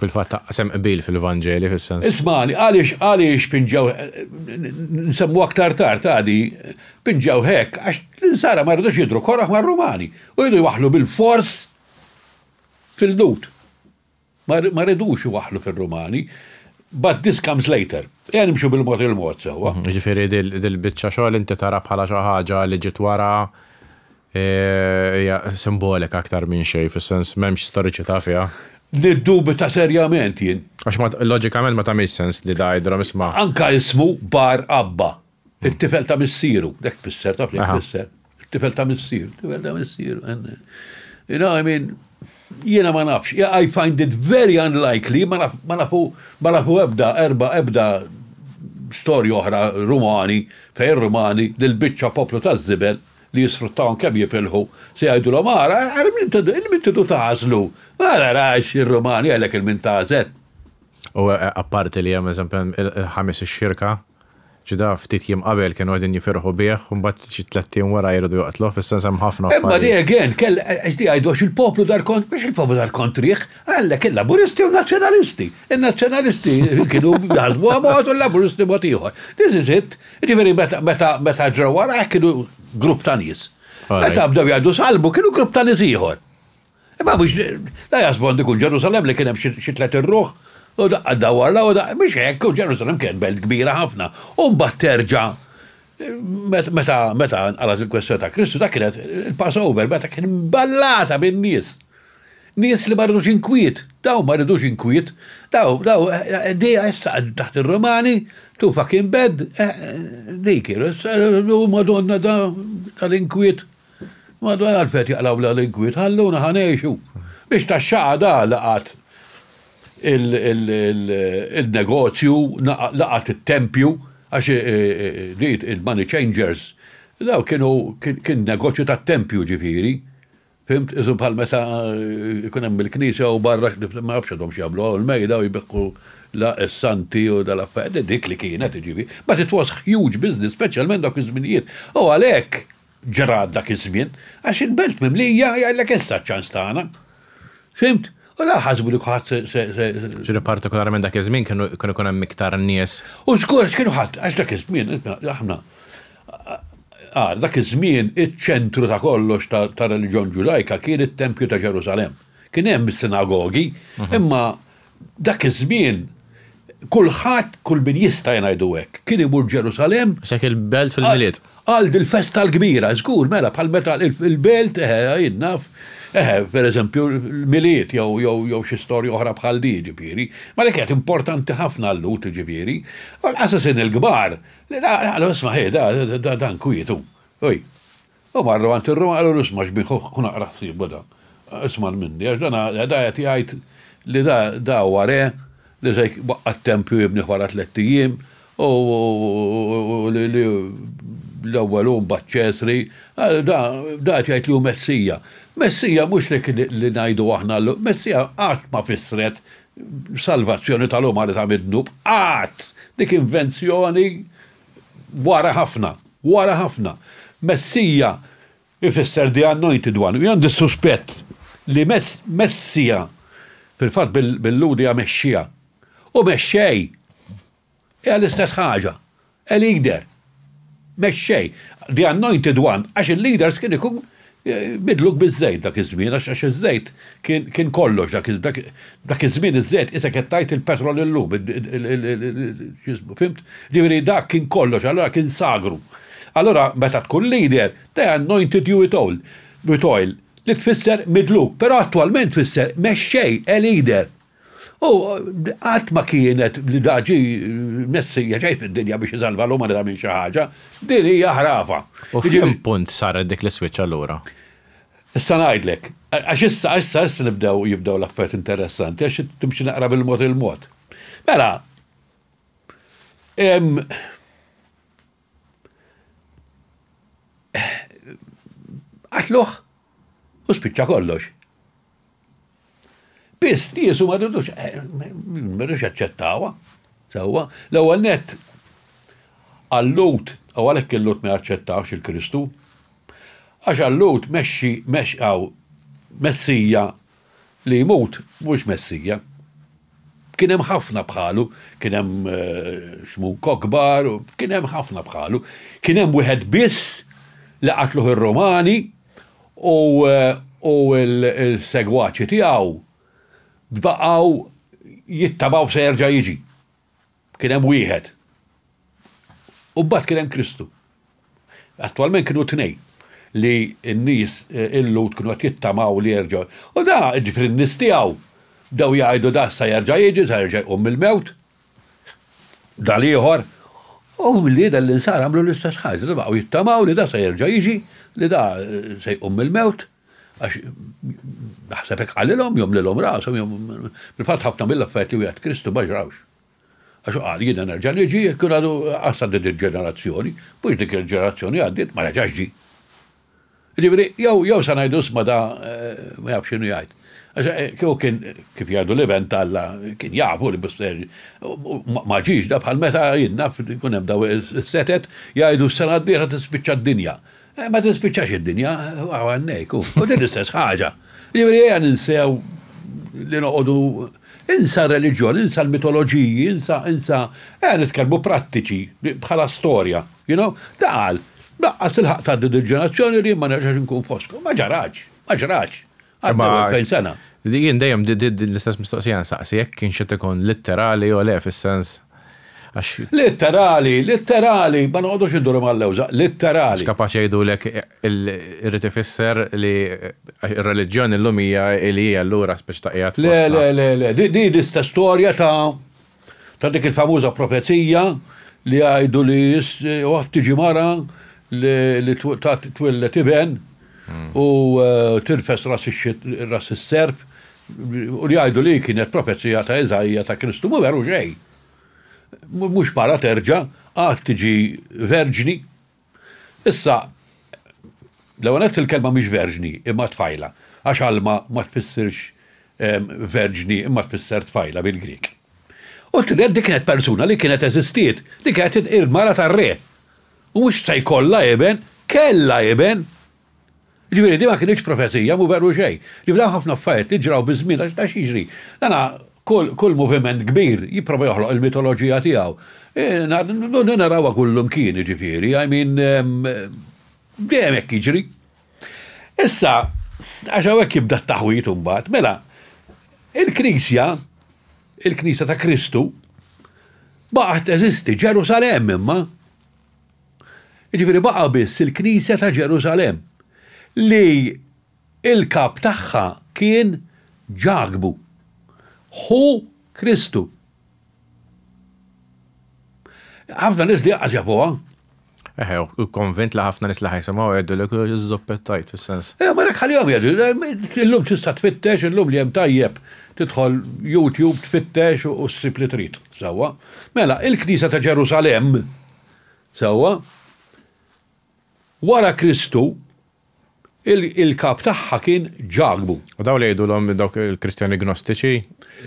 Fil-fatt taqsem qbil fil-Vanġeli fis-sens. Ismani, għaliex għaliex pinġaw nsemmu aktar tard għadi pinġaw hekk għax l-insara ma rridux jidru korraħ mar-Rumani u jridu jwaħlu bil-fors Fil-Lhud. Ma rridux iwaħħlu fir-Rumani. But this comes later. Ejja nimxu bil-mod il-mod sewwa. Jiġifieri dil-biċċa xogħol inti tara bħala xi ħaġa li ġiet wara hija simbolika aktar minn xejn, fis-sens m'hemmx storiċità fiha. Niddubita serjament jien. Għax loġikament ma tagħmilx sens li da jgħidilhom isma'. Anke ismu Bar Abba. It-tifel ta' missieru, dak tfisser, taf li tfisser. It-tifel ta' missieru, it-tifel ta' missieru. You know, I mean, jiena ma nafx, I find it very unlikely, ma nafu, ma nafu ebda, erba, ebda storja oħra Rumani, fej Rumani, li l-bicċa poplu ta' zibel li jisfruttawhom kemm jifilħu, se jgħidulhom ara, ara min tidu tażlu, ara rax ir-Rumani għalhekk il-min tażel. U apparti li hemm eżempju il-ħamis ix-xirka, Ġuda ftit jiem qabel kienu qegħdin jifirħu bih u mbagħad xi tlett ijiem wara jridu joqtluh, is-sens hemm ħafna affarijiet. Imma di again kell qed jgħidu għax il-poplu dar kont mhux il-poplu dar kontrih, għandek il-Laburisti u n-Nazzjonalisti. In-Nazzjonalisti kienu jaħsbuha mod u l-Laburisti mod ieħor. This is it. Jiġifieri meta meta ġraw wara hekk kienu grupp ta' nies. Meta bdew jgħidu salbu kienu grupp ta' nies ieħor. Imma biex da jasbon dikun Ġerusalem li kien hemm xi tliet irruħ u daqqa dawar law biex hekk u Ġerusalem kienet belt kbira ħafna. U mbagħad terġa' meta meta nqalgħet il-kwestjoni ta' Kristu dak kienet il-Passover meta kien imballata bin-nies. Nies li ma ridux inkwiet, daw ma ridux inkwiet, daw daw dejja issa taħt ir-Romani, tu fucking bed, dik u Madonna tal-inkwiet. M'għadu għalgħad b'qed jaqlaw bla likwid, ħalluna ħa ngħixu. Biex tax-xaqa da laqgħet il-negozju, laqgħet it-tempju, għax di il-money changers, dawk kienu kien negozju tat-tempju ġifieri, fhimt, isu bħal meta jkun hemm il-knisja u barra ma nafx għadhom x'jagħmlu hawn il-mejda u jbiħħu la s-santi u dal-affarijt, dik li kienet jiġifieri. But it was huge business, speċjalment dawk iż-żminijiet. U għalhekk. ġra dak iż-żmien, għax il-belt mimlija jgħidlek issa ċ-ċans tagħna. Fhimt? U la ħasbu li kulħadd se. Ġifieri partikolarment dak iż-żmien kienu kien ikun hemm iktar nies. U żgur għax kienu ħadd, għax dak iż-żmien aħna għal dak iż-żmien iċ-ċentru ta' kollox tar-reliġjon Ġudajka kien it-tempju ta' Ġerusalemm. Kien hemm is-sinagogi, imma Dak iż-żmien, kulħadd, kull min jista' ngħidu hekk, kien imur Ġerusalemm. Għax hekk il-belt fil-Milied. Għal dil-festa l-kbira, żgur, mela, bħal meta il-belt, eħe, jien naf, eħe, pereżempju, l-Milied jew xi storja oħra bħal din, jiġifieri. Ma dik kienet importanti ħafna għal-Lhud, jiġifieri. Għall-qasasin il-kbar, qalu, isma', ħej, dan kwiet hu. Hui. U marru għand ir-ruħ u qalulu, Isma' xbin ħuh, kun aqra ħsiebu dan. Isman minni, għax dan da qed jgħid li da da huwa re li se jwaqqa' t-tempju jibnih wara tlett ijiem, u li li l-ewwel hu mbagħad Ċesri, da da qed jgħid li hu Messija. Messija mhux dik li ngħidu aħna llum, Messija qatt ma fissret salvazzjoni tal-umanità mid-dnub, qatt! Dik invenzjoni Wara ħafna, wara ħafna. Messija jfisser the anointed one u jien għandi s-suspett li Messija fil-fatt bil-Lhud hija Mexxija u Mexxej hija l-istess ħaġa, a leader, Mexxej, the anointed one għax il-leaders kien ikun Bidluk biż-żejt dak iż-żmien għax għax iż-żejt kien kien kollox dak dak dak iż-żmien iż-żejt qisek qed tgħid il-petrol illum id il il il x'jismu fimt? Ġifieri dak kien kollox allura kien sagru. Allura meta tkun leader they anointed you with oil with oil li tfisser midluk però attwalment tfisser mexxej, a leader. U qatt ma kienet li da ġie Messija ġej fid-dinja biex isalva l-umanità minn xi ħaġa. Din hija ħrafa. U f'liema punt saret dik l-iswitch allura? Issa ngħidlek. Għax issa, issa, issa nibdew jibdew l-affarijiet interessanti għax timxi naqra bil-mod il-mod. Mela, Qatluh u spiċċa kollox. Biss niesu ma ridux, eh, ma ridux jaċċettawha. Sewwa, l-ewwel nett għallut, u għalhekk il-lut ma jaċċettawx il-Kristu, għax għallut mexxi mexqaw messija li jmut mhux Messija. Kien hemm ħafna bħalu, kien hemm xmu Kokbar, kien hemm ħafna bħalu. Kien hemm wieħed biss li qatluh ir-Rumani u u l-segwaċi tiegħu bdaqgħu jittabaw se jerġa' jiġi. Kien hemm wieħed. U mbagħad kien hemm Kristu. Attwalment kienu tnejn li n-nies eh, il-Lut kienu qed jittamaw li jerġgħu. U da, ġifieri n-nies tiegħu, bdew jgħidu da sa jerġa' jiġi, sa jerġa' jqum mill-mewt. Da l-ieħor. U li dan l-insar għamlu l-istess ħaġa, da baqgħu jittamaw li da sa jerġa' jiġi, li da eh, se jqum mill-mewt. Għax naħseb hekk qalilhom, jew mlilhom rashom, jew fil-fatt ħafna mill-affarijiet li wieħed Kristu ma ġrawx. Għax hu qal, jiena nerġa' niġi jekk jkun għadu qas għaddiet din il-ġenerazzjoni, mhux dik il-ġenerazzjoni għaddiet, ma reġax ġie. Jiġifieri, jew jew se ngħidu isma' da ma jafx x'inhu jgħid. Għax kieku kien kif jgħidu l-Iben t'Alla kien jafu li mhux se jerġa'. Ma ġiex da bħal meta jien naf ikun hemm dawn is-setet jgħidu s-sena d-dieħla tispiċċa d-dinja. Ma tispiċċax id-dinja għawannejk, u din l-istess ħaġa. Jiġifieri ejja ninsew li noqogħdu insa r-reliġjon, insa l-mitoloġiji, insa, insa, ejja nitkellmu prattiċi bħala storja, you know? Da qal, laqqas tilħaq tgħaddi dil-ġenerazzjoni li jien ma nerġax inkun fostkom. Ma ġarax, ma ġrax. Għaddew Imma- 2000 sena. Li jien dejjem di- di- di- l-istess mistoqsija nsaqsi jekk kienx qed ikun litterali jew le fis-sens għax Litterali, litterali, ma noqogħdux induru mal-lewża, litterali. kapaċi jgħidulek il- irrid ifisser li għax ir-reliġjoni llum hija li hija allura speċi ta' qiegħed Le, fostna. le, le, le, di di l-istess storja ta' Ta' dik il-famuża profezija li jgħidu li waħt tiġi mara li twillet iben hmm. u eh, tirfes ras is-serf u li jgħidu li kienet profezija ta' Iżajja ta' Kristu mu veru xejn. Mhux mara terġa' għad tiġi verġni Issa, l-ewwel nett il-kelma mhix verġni, imma tfajla, għax Alma ma tfissirx verġni imma tfisser tfajla bil-Grieg. U t-tieni nett din kienet persuna li kienet eżistiet, din kienet il-mara tar-re. U mhux se jkollha iben, kellha iben, Jiġifieri din ma kinitx profezija, mhu veru xejn. Jiġifieri hemm ħafna affarijiet li ġraw biż-żmien għax taf x'jiġri. Dana kull kull moviment kbir jipprova joħloq il-mitoloġija tiegħu. Din narawha kullimkien jiġifieri, I mean dejjem hekk jiġri. Issa, għax hawnhekk jibda t-taħwid imbagħad, mela il-Knisja, il-Knisja ta' Kristu baqgħet teżisti, Ġerusalemm imma. Jiġifieri baqa' biss il-Knisja ta' Ġerusalemm li l-Kap tagħha kien Ġakbu, ħu Kristu. Ħafna nies li għax jafuha. Eħe, u konvint li ħafna nies li ħajsimgħu jgħidulek żoppettajt fis-sens. Eh, ma dak ħalihom jgħidu, eh, illum tista' tfittex, illum li hemm tajjeb tidħol YouTube tfittex u ssib li trid. Sewwa. Mela, il-Knisja ta' Ġerusalemm Sewwa? Wara Kristu, il-kap tagħha kien Ġakbu. U dawn li jgħidulhom dawk il-Kristjani Gnostiċi?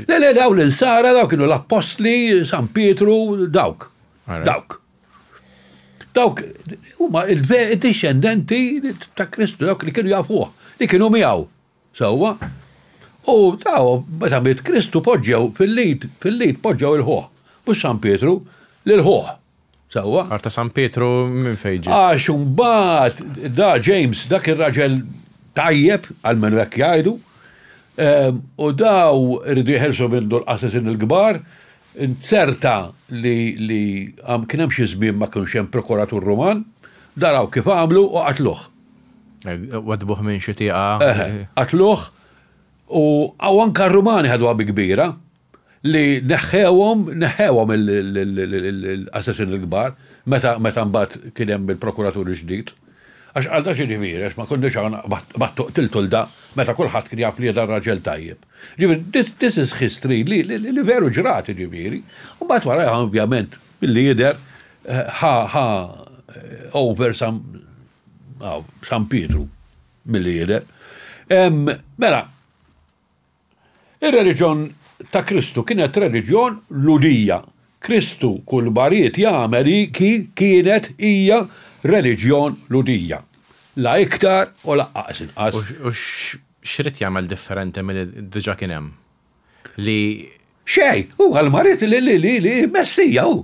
Le, le, dawn l-insara, dawk kienu l-Appostli, San Pietru, dawk. Dawk. Dawk huma il-dixxendenti ta' Kristu, dawk li kienu jafuh, li kienu miegħu. Sewwa, u taw meta miet Kristu poġġew fil-lid, fil-lid poġġew il-ħuħ, mhux San Pietru, lill-ħuħ. Sewwa? Arta San Pietru minn fejn ġiet? Għax imbagħad da James dak ir-raġel tajjeb, almenu hekk jgħidu, ehm, u daw iridu jeħilsu minn dul qasesin il-kbar, inzerta li li kien hemm xi żmien ma kienx hemm prokuratur Ruman, daraw kif għamlu u qatluh. Wadbuh minn xi tieqa. Eħe, qatluh u anke r-Rumani ħaduha bi kbira li neħħewhom, neħħewhom l-assassini l-kbar meta mbagħad kien hemm il-prokuratur il-ġdid. Għax qal dan x'jiġifieri għax ma konniex hawn b'għad qtiltu 'l da meta kulħadd kien jaf li jien raġel tajjeb. Jiġifieri this is history li veru ġrat jiġifieri. U mbagħad wara ovvjament Milli jidher, ħa ħa over San hawn, San Pietru, milli jidher. Mela, ir-reliġjon ta' Kristu kienet reliġjon Lhudija. Kristu kull ma ried jagħmel hi ki kienet hija reliġjon Lhudija. La iktar u laqqas inqas. U x'ried jagħmel differenti milli diġà kien hemm? li. Xejn, hu qal ma rid li li li li Messija hu.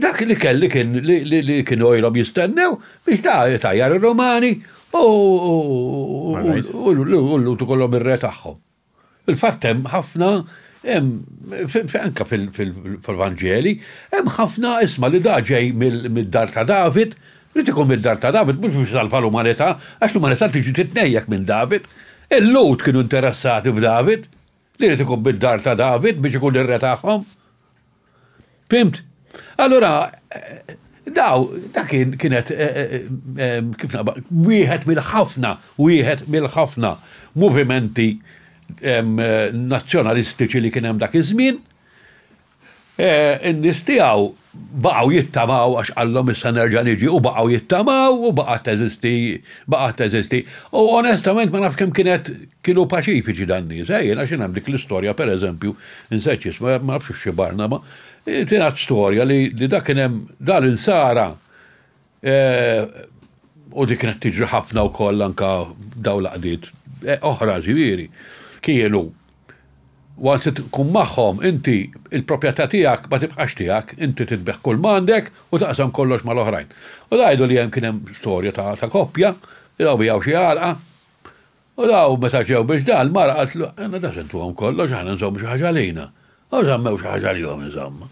Dak li kelli kien li kienu ilhom jistennew biex ta' tajjar ir-Romani u l-Lut ikollhom ir-re tagħhom. Il-fatt hemm ħafna anke fil-Vanġeli, hemm ħafna isma' li da ġej mid-dar ta' David, Irid ikun mid-dar ta' David mhux biex isalva l-umanità, għax l-umanità tiġi titnejjek minn David. Il-Lhud kienu interessati f'David, li jrid ikun mid-dar ta' David biex ikun ir-re tagħhom. Fhimt? Allura daw, dak kien kienet kif wieħed mill-ħafna, wieħed mill-ħafna movimenti nazzjonalistiċi li kien hemm dak iż-żmien. In-nies tiegħu baqgħu jittamaw għax qallhom issa nerġa' niġi u baqgħu jittamaw u baqgħet teżisti baqgħet teżisti. U onestament ma nafx kemm kienet kienu paċifiċi dan-nies. Ejn għax kien hemm dik l-istorja pereżempju, insejt x'isma, ma nafx hux xi Barnaba, tingħad storja li dak kien hemm, da l-insara, U dik kienet tiġri ħafna wkoll anka daw l-għaqdiet oħra ġifieri. Kienu once tkun magħhom inti il-proprjetà tiegħek ma tibqax tiegħek, inti titbigħ kull m'għandek u taqsam kollox mal-oħrajn. U jgħidu li hemm kien hemm storja ta' koppja li law biegħu xi għalqa, U dawn meta ġew biex dan, l-mara qaltlu, Għandna daqs intuhom kollox, aħna nżommu xi ħaġa għalina. U żammew xi ħaġa għalihom insomma.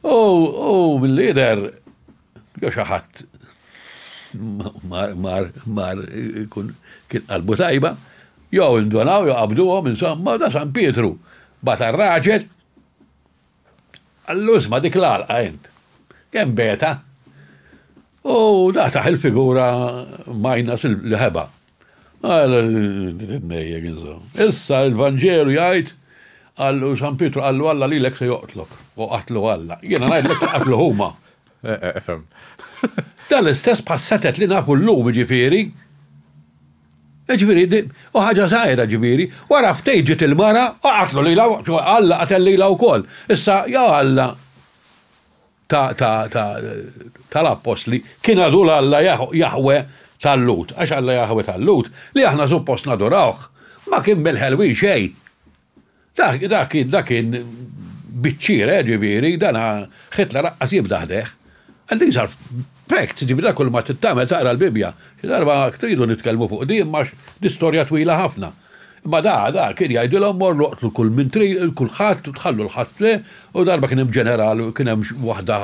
U, u milli jidher, jew xi ħadd mar, mar, mar ikun kien qalbu tajba, jew indonaw, jew qabduhom insomma, u da San Pietru bagħat għar-raġel, Allura isma' dik l-għalqa int. Kemm beta! U dataħ il-figura minus l-ħeba. Għal titnejjek insomma. Issa l-Vanġelu jgħid għallu San Pietru għallu Alla lilek se joqtlok. U qatlu Alla. Jiena ngħidlek li qatlu huma. Efhem. Dal-istess bħas-setet li nafu llum jiġifieri. Jiġifieri di hu ħaġa żgħira, jiġifieri, wara ftit ġiet il-mara u qatlu lilha, Alla qatel lilha wkoll. Issa, ja Alla ta' ta' ta' tal-appostli, kien għadu l-Alla Jaħweh tal-Lhud, għax Alla Jaħweh tal-Lhud, li aħna suppost nadurawh, ma kien mill-ħelwin xejn. Dak, dak kien, dak kien biċ-ċira, jiġifieri, dan Hitler laqqas jibda ħdejh. And these are facts, jiġifieri dak kull ma trid tagħmel taqra l-Bibbja. Xi darba jekk tridu nitkellmu fuq din imma din storja twila ħafna. Imma da, da kien jgħidilhom morru oqtlu kull min trid, kulħadd, tħallu l-ħadd le, u darba kien hemm ġeneral, kien hemm waħda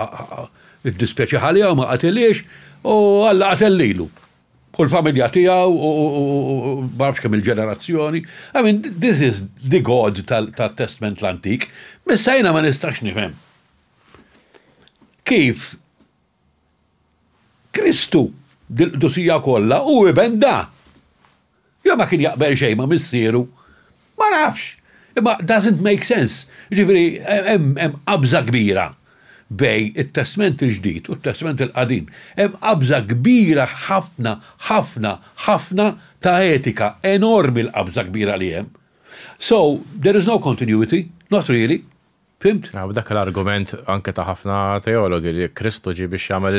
iddispjaċiha għaliha u ma qatilhiex, u Alla qatel lilu. u l-familja tiegħu u ma nafx kemm il-ġenerazzjoni. I mean, this is the God tat-Testment l-Antik. Missa jiena ma nistax nifhem. Kif Kristu dil-qdusija kollha u iben da. Jew ma kien jaqbel xejn ma' missieru. Ma nafx. Imma doesn't make sense. Jiġifieri hemm qabża kbira bejn it-Testment il-Ġdid u t-Testment il-Qadim. Hemm qabża kbira ħafna, ħafna, ħafna ta' etika. Enormi l-qabża kbira li hemm. So, there is no continuity, not really. Fhimt? Dak l-argument anke ta' ħafna teologi li Kristu ġie biex jagħmel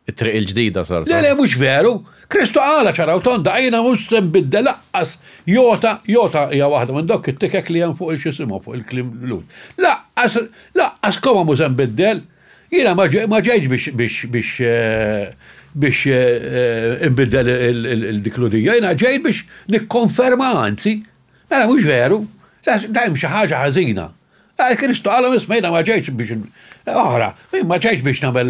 It-triq il-ġdida saret. Le, le, mhux veru! Kristu qalha ċara u tonda, Għajna mhux se nbiddel laqqas jota, jota hija waħda minn dawk it-tikek li hemm fuq il-x'isimhom, fuq il-kliem Lhud. Laqqas, laqqas koma mhux se nbiddel. Jiena ma ġejtx biex, biex, biex, biex inbiddel dik l-udija, jiena ġejt biex nikkonferma, anzi. Mela mhux veru? Le, hemm xi ħaġa ħażina. Għal Kristu qalhom isma' jiena ma ġejtx biex oħra, jien ma ġejtx biex nagħmel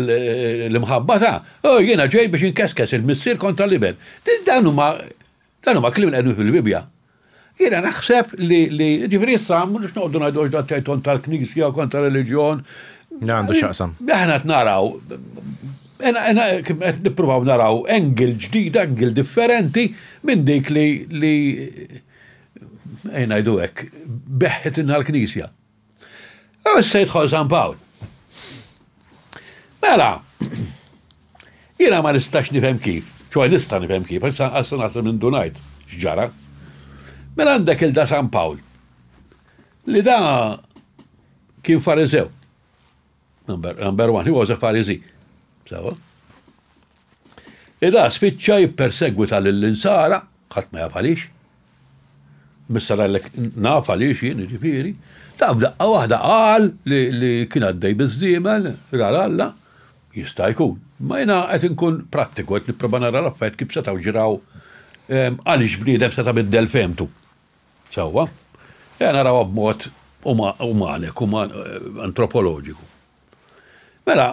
l-imħabba ta', u jiena ġej biex inkeskes il-missier kontra l-iben. Dawn huma dawn huma kliem li qegħdin fil-Bibbja. Jiena naħseb li li ġifieri issa mhux noqogħdu ngħidu għax dan tgħid kont tal-Knisja, kont tar-reliġjon. Għandu x'jaqsam. Aħna qed naraw qed nippruvaw naraw engel ġdida, engel differenti minn dik li ejn ngħidu hekk, beħħetilna l-Knisja. U issa jidħol San Pawl. Mela, jiena ma nistax nifhem kif, ċoj nista' nifhem kif, issa għassa naħseb minn dunajt x'ġara. Mela għandek il-da San Pawl, li da kien farisew. Number, number one, he was a Pharisee. Sawa? Ida spiċċa jippersegwita lill-insara, ħadd ma jaf għaliex. Missara l naf għaliex jien ġifieri. Ta' b'daqqa waħda qal li kien għaddej biżdiemel, rar Alla, jista' jkun. Ma jiena qed inkun prattiku qed nipprova nara l-affett kif setgħu ġraw ehm, għaliex bniedem seta' biddel femtu. Sewwa, ejja narawha b'mod umanek, antropoloġiku. Mela,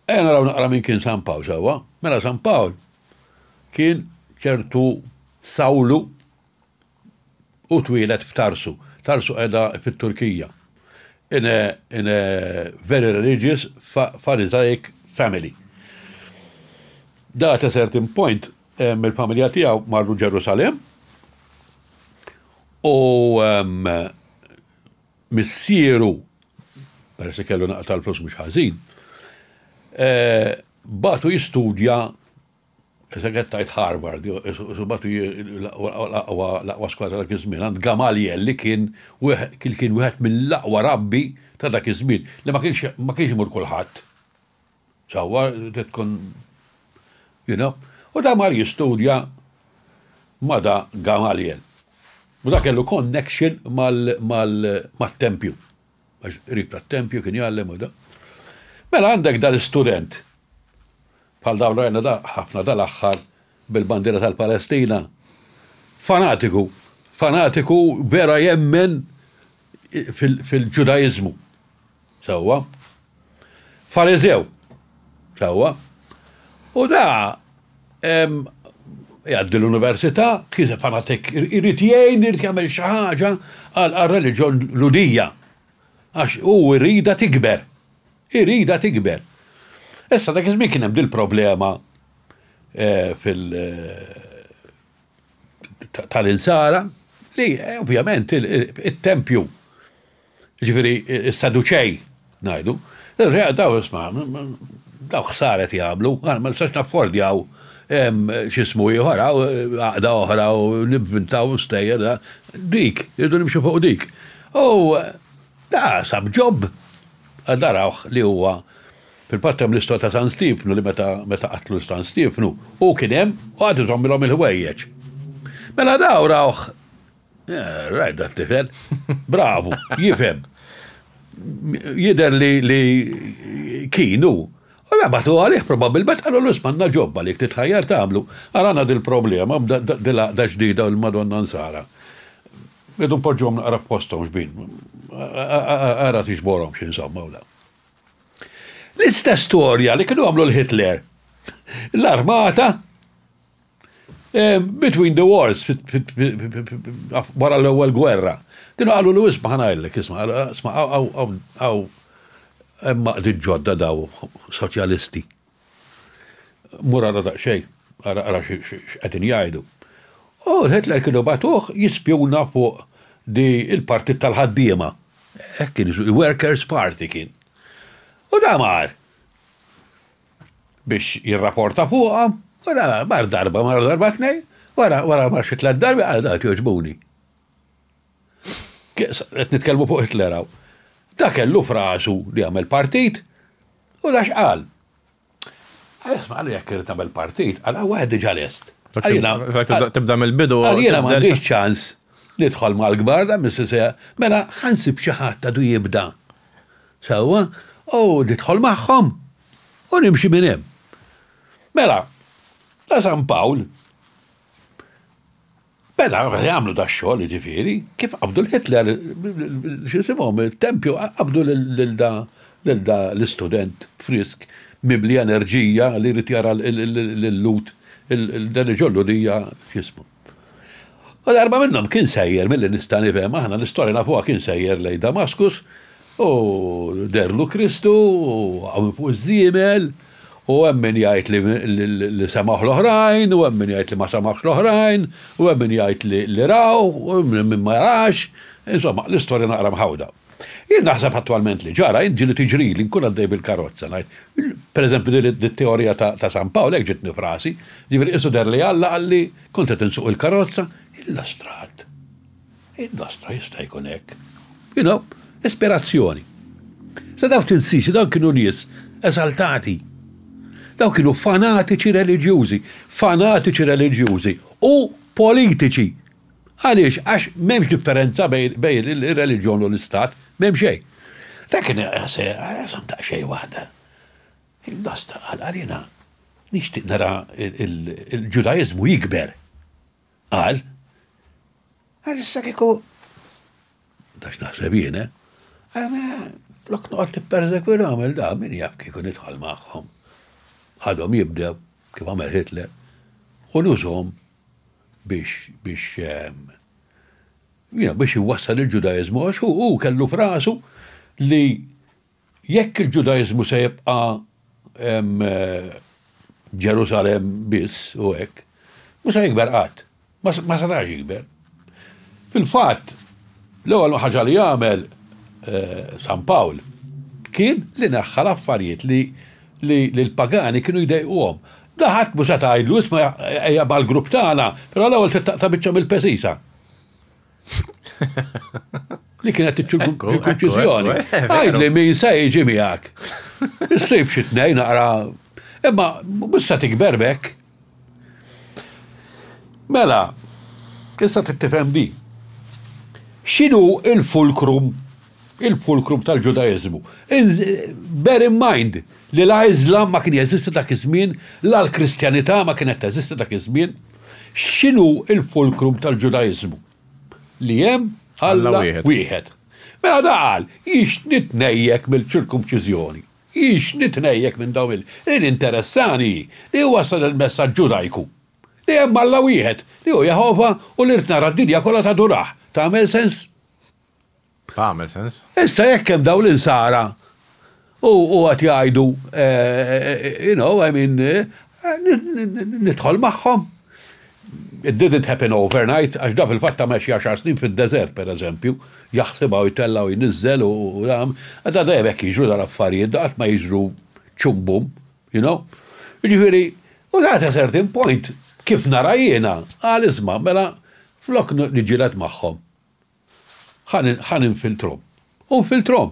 ejja naraw naqra min kien San Pawl, sewwa? Mela San Pawl kien ċertu Sawlu u twieled f'Tarsu. Tarsu qiegħda fit-Turkija. In a, in a very religious Pharisaic family. That a certain point, mill-familja tiegħu marru Ġerusalemm u missieru, peress li kellu naqta l-flus mhux ħażin, eh, batu jistudja Segħet tajt Harvard, batu l-aqwa skwadra dak iż-żmien, għand Gamaliel li kien kien wieħed mill-aqwa rabbi ta' dak iż-żmien, li ma kienx imur kulħadd. Sewwa trid tkun you know. U da mar jistudja ma' da Gamaliel. U da kellu connection mat-tempju. Għax qrib tat-tempju kien jgħallem u da. Mela għandek da l-istudent bħal dawn rajna da ħafna dal-aħħar bil-bandiera tal-Palestina. Fanatiku, fanatiku vera jemmen fil-Ġudaiżmu. Sewwa. Fariżew. Sewwa. U da jgħaddi l-università, kieża fanatik, irid jgħin, irid jagħmel xi ħaġa għar-reliġjon Lhudija. Għax hu jridha tikber. Iridha tikber. Issa dak iż-żmien kien hemm dil-problema eh, fil- tal-insara li ovvjament it-tempju Ġifieri s-Saduċej ngħidu, Reja daw isma' daw ħsaret jagħmlu, għal ma nistax naffordjaw x'ismu ieħor hawn għaqda oħra u nivvintaw stejjer dik, irridu nimxu fuq dik. U da sab ġob għal darawh li huwa fil-fatt hemm l-istwa ta' San Stiefnu li meta meta qatlu San Stiefnu hu kien hemm u għad iżommilhom il-ħwejjeġ. Mela daw rawh Eh, Rajt da tifel. Bravu, jifem. Jider li kienu. U rabatu għalih probabilment għallu l-ismanna ġobba li titħajjar tamlu. Għalana dil-problema, da ġdida l-Madonna Nsara. Bidu poġġom naqra postom xbin. Għara tiġborom xin samma u da. L-istess storja li kienu għamlu l-Hitler. L-armata Between the wars, wara l-ewwel gwerra, kienu qalu li isma' ħanajlek, isma', isma' għaw hemm maqdiet ġodda daw soċjalisti. Mur ara daqsxejn, ara x'qegħdin jgħidu. U Hitler kienu bagħtuh jispjuna fuq di il-partit tal-ħaddiema. Hekk kien, workers party kien. U da mar. biex jirraporta fuqha, wara mar darba, mar darba tnej, wara wara mar xi tliet darbi qal dak jogħġbuni. Qed nitkellmu fuq Hitler hawn. Da kellu frasu li jagħmel partit u da x'qal. Isma' għal jekk irid nagħmel partit, għal wieħed diġà lest. Tibda mill-bidu. Għal jiena m'għandix ċans nidħol mal-kbar da mis-sisija. Mela ħansib xi ħadd għadu jibda. Sewwa, u nidħol magħhom u nimxi minn hemm. Mela, ta' San Pawl, meta għamlu dax-xogħol, jiġifieri, kif qabdu l-Hitler, x'isimhom, it-tempju, qabdu lil da l-istudent frisk, mimli enerġija li jrid jara lil Lut, dan iġollu dija, x'jismu. U darba minnhom kien sejjer milli nista' nifhem aħna l-istorja nafuha kien sejjer lejn Damaskus u dehrlu Kristu u waqgħu minn fuq iż-żiemel u hemm min jgħid li semgħuh l-oħrajn u hemm min jgħid li ma semgħuhx l-oħrajn u hemm min jgħid li raw u hemm min ma rax, insomma l-istorja naqra mħawda. Jien naħseb attwalment li ġara, jien ġieli tiġrili, nkun għaddej bil-karozza, ngħid, per eżempju din it-teorija ta' San Pawl hekk ġietni f'rasi, jiġifieri qisu deher li Alla qalli, kont qed insuq il-karozza, illustrat. Illustra, jista' jkun hekk. You know, ispirazzjoni. Sa dawk tinsiex, dawk kienu nies esaltati. Dawk kienu fanatiċi reliġjużi, fanatiċi reliġjużi u politiċi Għaliex? Għax m'hemmx differenza bejn ir-reliġjon u l-istat, m'hemm xejn. Dak kien se rasom daqsxejn waħda. Il-nosta qal għalina nixtieq nara l-Ġudaiżmu jikber. Qal, għal issa kieku dax naħseb jien, eh? Lok noqgħod nippersekwilhom il da min jaf kieku nidħol magħhom. Għadhom jibdew kif għamel Hitler u nużhom biex biex biex iwassal il-Ġudaiżmu għax hu hu kellu f'rasu li jekk il-Ġudaiżmu se jibqa' Ġerusalemm biss u hekk, mhux se jikber qatt. Ma setax jikber. Fil-fatt, l-ewwel ħaġa li għamel San Pawl kien li neħħa l-affarijiet li lill-pagani kienu jdejquhom. La ħadd mhu seta' jgħidlu, isma' ejja mal-grupp tagħna, però l-ewwel trid taqta' biċċa mill-pesisa. Li kienet iċ-ċirkumċiżjoni. Għidli min se jiġi miegħek. Issib xi tnejn naqra. Imma mhux se tikber b'hekk. Mela, issa trid tifhem din. X'inhu l-fulkrum il-fulkrum tal-Ġudaiżmu? Bear in mind li la Iżlam ma kien jeżisti dak iż-żmien, la l-Kristjanità ma kienet teżisti dak iż-żmien. X'inhu l-fulkrum tal-Ġudaiżmu? Li hemm Alla wieħed. Mela da qal, jiex nitnejjek mill-ċirkumċiżjoni. Hix nitnejjek minn dawn il. Li ninteressani hi li iwassal il-messaġġ Ġudajku li hemm Alla wieħed, li hu Jehovah u li rrid nara d-dinja kollha tadurah. Tagħmel sens? Tagħmel sens. Issa jekk hemm dawn l-insara u u qed jgħidu you know, I mean, nidħol magħhom. It didn't happen overnight għax da fil-fatt għamel xi għaxar snin fid-deżert pereżempju, jaħsibha u jtellgħa u jniżżel u jagħm, da dejjem hekk jiġru dal-affarijiet, da qatt ma jiġru ċum bum, you know. Jiġifieri, u sa at a certain point, kif nara jiena, qal isma', mela flok niġġieled magħhom, Ħa ninfiltrhom. U nfiltrhom.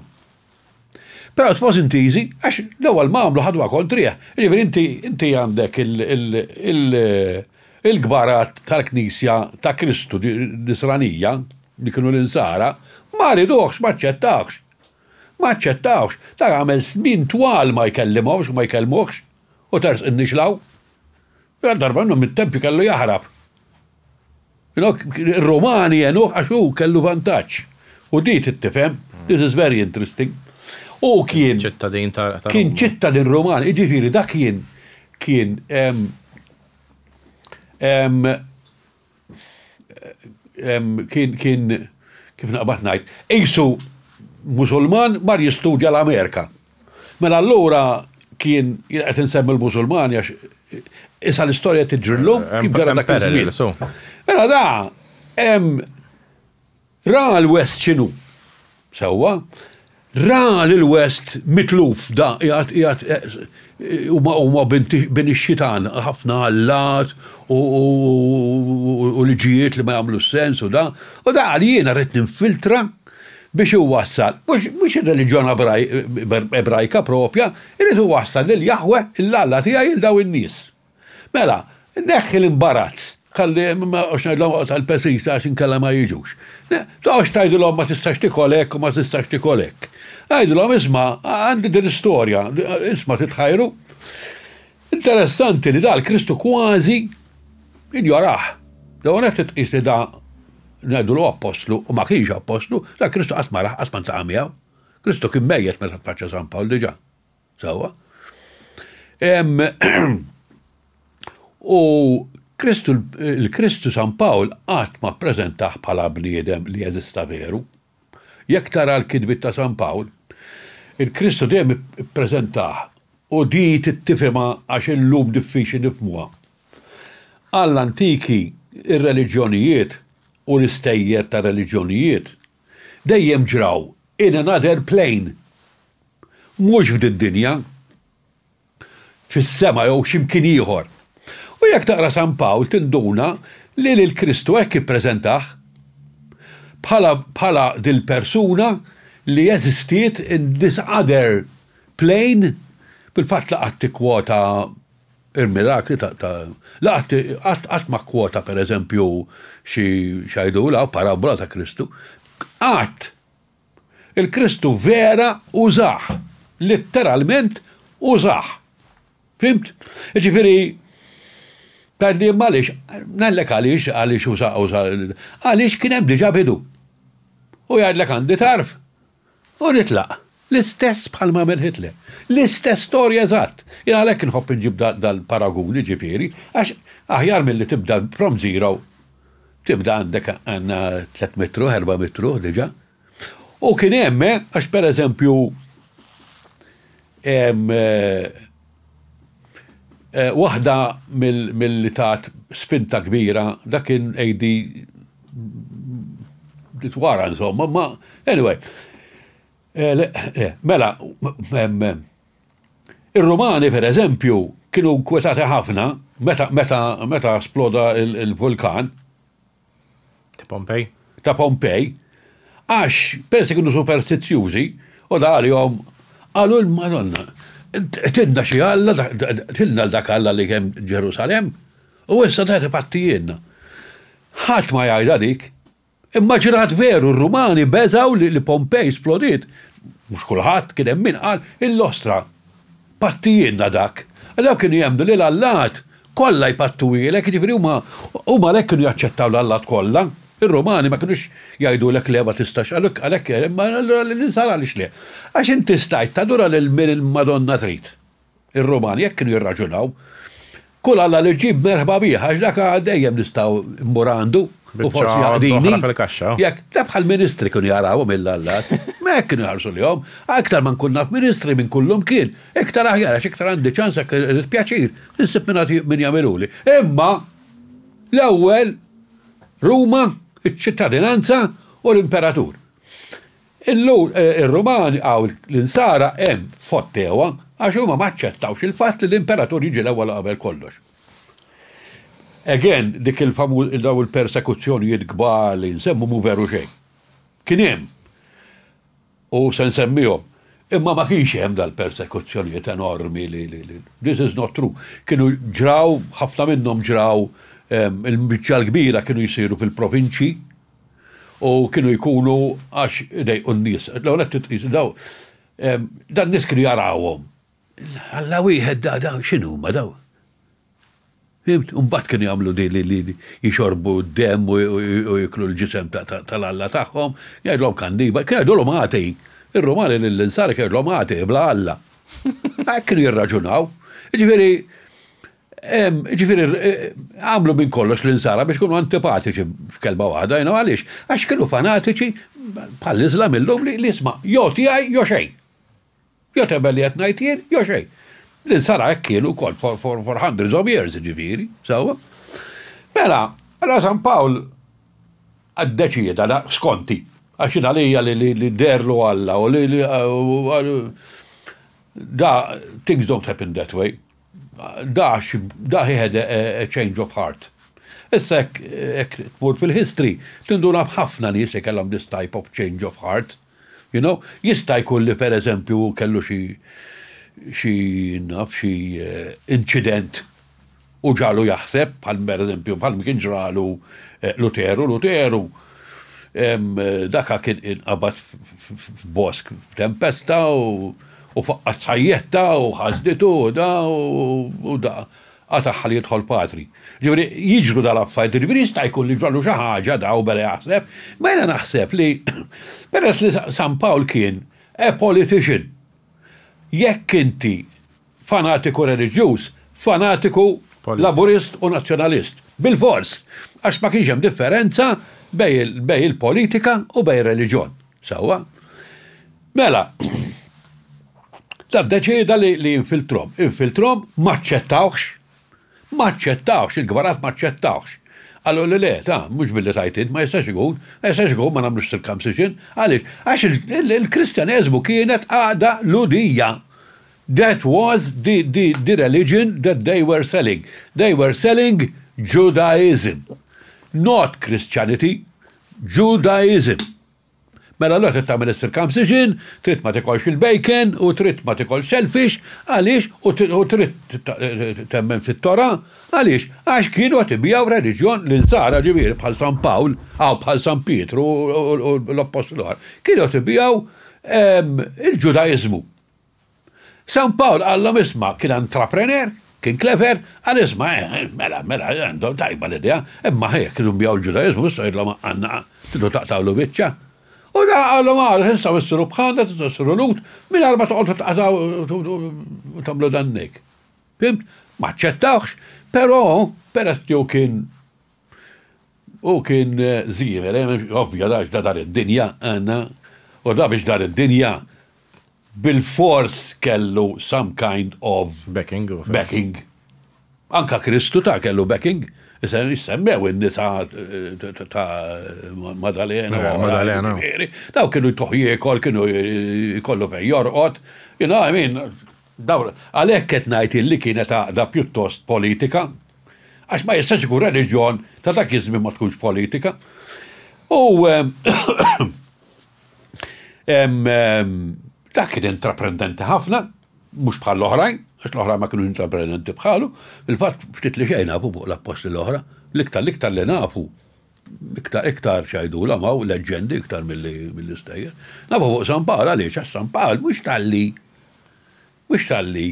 Però it was int easy għax l-ewwel ma għamlu ħadwha kontrieh. Jiġifieri inti għandek il-kbarat tal-Knisja ta' Kristu Nisranija, li kienu l-Insara, ma riduhx, ma aċċettawhx. Ma aċċettawhx. Dak għamel snin twal ma jkellimhomx u ma jkellmuhx u tersqin nixlaw. Għal darba minnhom it-tempju kellu jaħrab. Inok, il-Romani jenuħ għax u kellu vantaġġ. U di tittifem, this is very interesting. U kien. ċittadin ta' Kien ċittadin Roman, iġifiri da kien kien kien kien kif naqbad ngħid, isu Musulman mar jistudja l-Amerika. Mela allura kien jien qed insemmi l-Musulmani għax issa l-istorja tiġri llum jibgħar dak iż-żmien. Mela da hemm ra l-West x'inhu. Sewwa, ra lil West mitluf da qiegħed qiegħed eh, huma bin ix-xitan ħafna allat u liġijiet li ma jagħmlu sens u da. U da għal jiena rrid ninfiltra biex iwassal, mhux ir-reliġjon Ebrajka proprja, irid iwassal lil Jaħwe, l-Alla tiegħi, lil dawn in-nies. Mela, neħħi l-imbarazz, ħalli ma noqgħodx ngħidilhom oqgħod għall-pesisa għax inkella ma jiġux. Toqgħodx tgħidilhom ma tistax tikol hekk u ma tistax tikol hekk. Għidilhom isma' għandi din l-istorja, isma' titħajru. Interessanti li da l-Kristu kważi injorah. L-ewwel nett tqis li da ngħidulu appostlu u ma kienx appostlu, da l-Kristu qatt ma rah, qatt ma ntaqa' miegħu. Kristu kien mejjet meta tfaċċa San Pawl diġà. Sewwa. U Kristu l-Kristu San Pawl qatt ma ppreżentah bħala bniedem li eżista veru. Jekk tara l-kitbiet ta' San Pawl, il-Kristu dejjem ippreżentah, u di trid tifhimha għax illum diffiċli nifhmuha. Għall-antiki, ir-reliġjonijiet, u l-istejjer tar-reliġjonijiet, dejjem ġraw in another plane, mhux f'did-dinja. fis-sema jew xi mkien ieħor. U jekk taqra San Pawl tinduna li lil Kristu hekk ippreżentah, bħala bħala dil-persuna li eżistiet in this other plane, fil-fatt la qatt ikkwota il-mirakli ta' ta' la qatt qatt qatt ma kkwota pereżempju xi x'għidulha parabola ta' Kristu. Qatt! Il-Kristu vera użah, litteralment użah. Fimt? Ġifieri Tgħidli imma għaliex, ngħidlek għaliex għaliex uża uża għaliex kien hemm diġà bidu. U jgħidlek għandi tarf u nitlaq. L-istess bħal m'għamel Hitler. L-istess storja eżatt. Jien għalhekk inħobb inġib dal-paragun, jiġifieri, għax aħjar milli tibda from zero Tibda għandek għandna tliet mitruh, erba' mitruh diġà. U kien hemm, eh, għax pereżempju hemm eh, Eh, waħda mill-li tat spinta kbira, dak kien AD wara insomma, ma anyway. Eh, eh, mela, Ir-Rumani, per eżempju, kienu nkwetati ħafna meta meta meta sploda l-vulkan. Ta' Pompej. Ta' Pompej, għax persi kienu superstizzjużi u da għalihom qalu l-Madonna tilna xi alla, tilna l-dak alla li kemm Ġerusalem, u issa da tibatti jienna. Ħadd ma jgħidha dik. Immaġinat veru r-Rumani beżgħu li Pompej splodiet. Mhux kulħadd, kien hemm min qal, Illostra, pattijielna dak. Dawk kienu jemmnu li l-allat kollha jpattuhielek, jiġifieri huma huma għalhekk kienu jaċċettaw l-allat kollha. Ir-Rumani ma kinux jgħidulek le ma tistax, għalhekk imma allura l-insara għaliex le? Għax inti stajt tadura lil min il-Madonna trid. Ir-Rumani hekk kienu jirraġunaw. Kull Alla li ġġib merħba bih, għax dak dejjem nistgħu mmur għandu u forsi jaqdini. Jekk, da bħal ministri kienu jarawhom il-lallat. Ma hekk kienu jħarsu lihom. Aktar ma nkun naf ministri minn kullum kien, iktar aħjar għax iktar għandi ċans hekk irid pjaċir, insib min jagħmiluli. Imma l-ewwel Ruma, iċ-ċittadinanza u l-imperatur. Illum ir-Rumani hawn l-insara hemm fottewha għax huma ma aċċettawx il-fatt li l-imperatur jiġi l-ewwel u qabel kollox. Again dik il-famu dawn il-persekuzzjonijiet kbar li nsemmu mhu veru xejn. Kien hemm u se nsemmihom. Imma ma kienx hemm dal-persekuzzjonijiet enormi li li li this is not true. Kienu ġraw, ħafna minnhom ġraw il-biċċa l-kbira kienu jsiru fil-provinċji, u kienu jkunu għax idejqu n-nies. L-ewwel qed titqis daw dan nies kienu jarawhom. Alla wieħed da da x'inhu ma daw? Fimt? Imbagħad kienu jagħmlu di li jixorbu d-demm u jiklu l-ġisem tal-Alla tagħhom, jgħidlhom kanniba, kienu jgħidulhom ħati. Ir-Rumani lill-insara kienu jgħidlhom ħati bla Alla. Hekk kienu jirraġunaw. Jiġifieri Jiġifieri għamlu minn kollox l-Insara biex ikunu antipatiċi f'kelma waħda, you know, għaliex? Għax kienu fanatiċi bħall-Iżlam illum li isma' jew tiegħi jew xejn. Jew temmel li qed ngħid jien jew xejn. L-Insara hekk kienu wkoll for, for, for hundreds of years, jiġifieri, sewwa. Mela, allura San Pawl ddeċieda, da, skonti, għax jien għalija li, li, li derlu Alla u li, li, da, things don't happen that way. Dax, da he had a change of heart. Issa jekk tmur fil-history, tinduna b'ħafna nies li kellhom this type of change of heart. You know? Jista' jkun li per eżempju hu kellu xi xi naf xi inċident u ġagħlu jaħseb bħal per eżempju bħal ma kien ġralu Luteru. Luteru Daka kien inqabad f'bosk f'tempesta u faqqat sajjetta u ħasditu u da u da qataħħa li jidħol patri. Ġifieri jiġru dal-affarijiet, ġifieri jista' jkun li ġrallu xi ħaġa da u beda jaħseb, ma jiena naħseb li peress li San Pawl kien a politician, jekk inti fanatiku reliġjuż, fanatiku Laburist u Nazzjonalist. Bilfors! Għax ma kienx hemm differenza bejn il-politika u bejn ir-reliġjon. Sewwa? Mela, dan ddeċieda li jinfiltrhom. Infiltrhom, ma aċċettawhx. Ma aċċettawhx, il-kbarat ma aċċettawhx. Qalulu le, ta, mhux billi tgħid int, ma jistax ikun, ma jistax ikun ma nagħmlux circumcision. Għaliex? Għax il-Kristjaneżmu kienet għaqda Lhudija. That was the the the religion that they were selling. They were selling Judaism. Not Christianity. Judaism. Mela allura trid tagħmel is-circumcision, trid ma tikolx il-bacon u trid ma tikolx selfish, għaliex u trid temmen fit-Tora, għaliex? Għax kienu qed ibigħu reliġjon l-insara ġifieri bħal San Pawl, aw bħal San Pietru u l-appostli l-oħra. Kienu qed ibigħu il-Ġudaiżmu. San Pawl qallhom isma' kien entrepreneur, kien clever, qal isma' mela, mela, għandhom tajba l-idea, imma ħa jekk iridu nbigħu l-Ġudaiżmu issa jidhirlhom għandna tridu taqtgħulu biċċa. U daħaq qalhom ara tistgħu issiru bħalna, tistgħu issiru Lhud mingħajr ma toqgħodu tqatgħu u tagħmlu dannik. Fhimt? M'aċċettawhx, però peress li hu kien Hu kien żieher, ovvja, għax ta' dar id-dinja, għandna, u ta' biex dar id-dinja bilfors kellu some kind of. Backing. Backing. Anke Kristu ta' kellu backing. Issemmew in-nisa ta' Madalena. Madalena. Daw kienu jtuħ jiekol, kienu jkollu fejn jorqod. You know, I mean, Dawn, għalhekk qed ngħid illi kienet għaqda pjuttost politika, għax ma jistax ikun reliġjon ta' dak iż-żmien ma tkunx politika. U dak kien intraprendenti ħafna, mhux bħall-oħrajn, għax l-oħrajn ma kinux intraprendenti bħalu, fil-fatt ftit li xejn nafu fuq l-appostli l-oħra, l-iktar l-iktar li nafu Iktar, iktar x'għidulhom hawn, leġġendi iktar milli, milli stejjer. Nafu fuq San Pawl għaliex għax San Pawl mhux talli mhux talli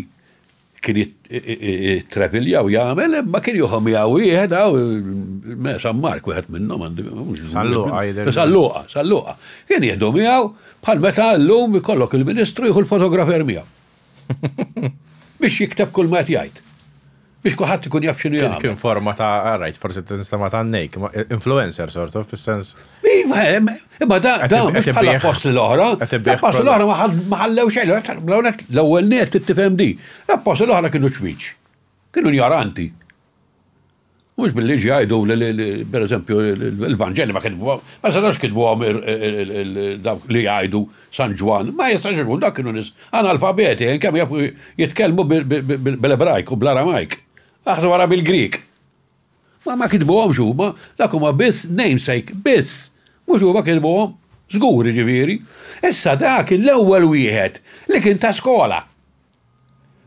kien jittrevilja u jagħmel imma kien jieħu miegħu wieħed hawn me San Mark wieħed minnhom għandi Salluqa jidher. Salluqa, Salluqa. Kien jieħdu miegħu bħal meta llum ikollok il-Ministru jieħu l-fotografer miegħu. Biex jikteb kull ma qed jgħid. Biex kuħat ikun jaf xinu jgħid. Kien forma ta' għarajt, ah, forsi t-nistama ta' nejk, influencer sort of, fil-sens. Iva, imma da, da, mux bħala apostli l-ohra. Apostli l-ohra maħallew xejn, l-ewel net t-tifem di. Apostli l-ohra kienu ċmiċ. Kienu njaranti. Mhux bil-liġi jgħidu li, pereżempju, l-Vanġeli ma kitbuha, ma setgħux kitbuhom dawk li jgħidu San Ġwann, ma jistax ikun, dawk kienu nies analfabeti, kemm jafu jitkellmu bl-Ebrajk u bl-Aramajk, aħsbu wara bil-Grieg. Ma ma kitbuhomx huma, dak huma biss namesake, biss, mhux huma kitbuhom, żgur jiġifieri. Issa dak kien l-ewwel wieħed li kien ta skola.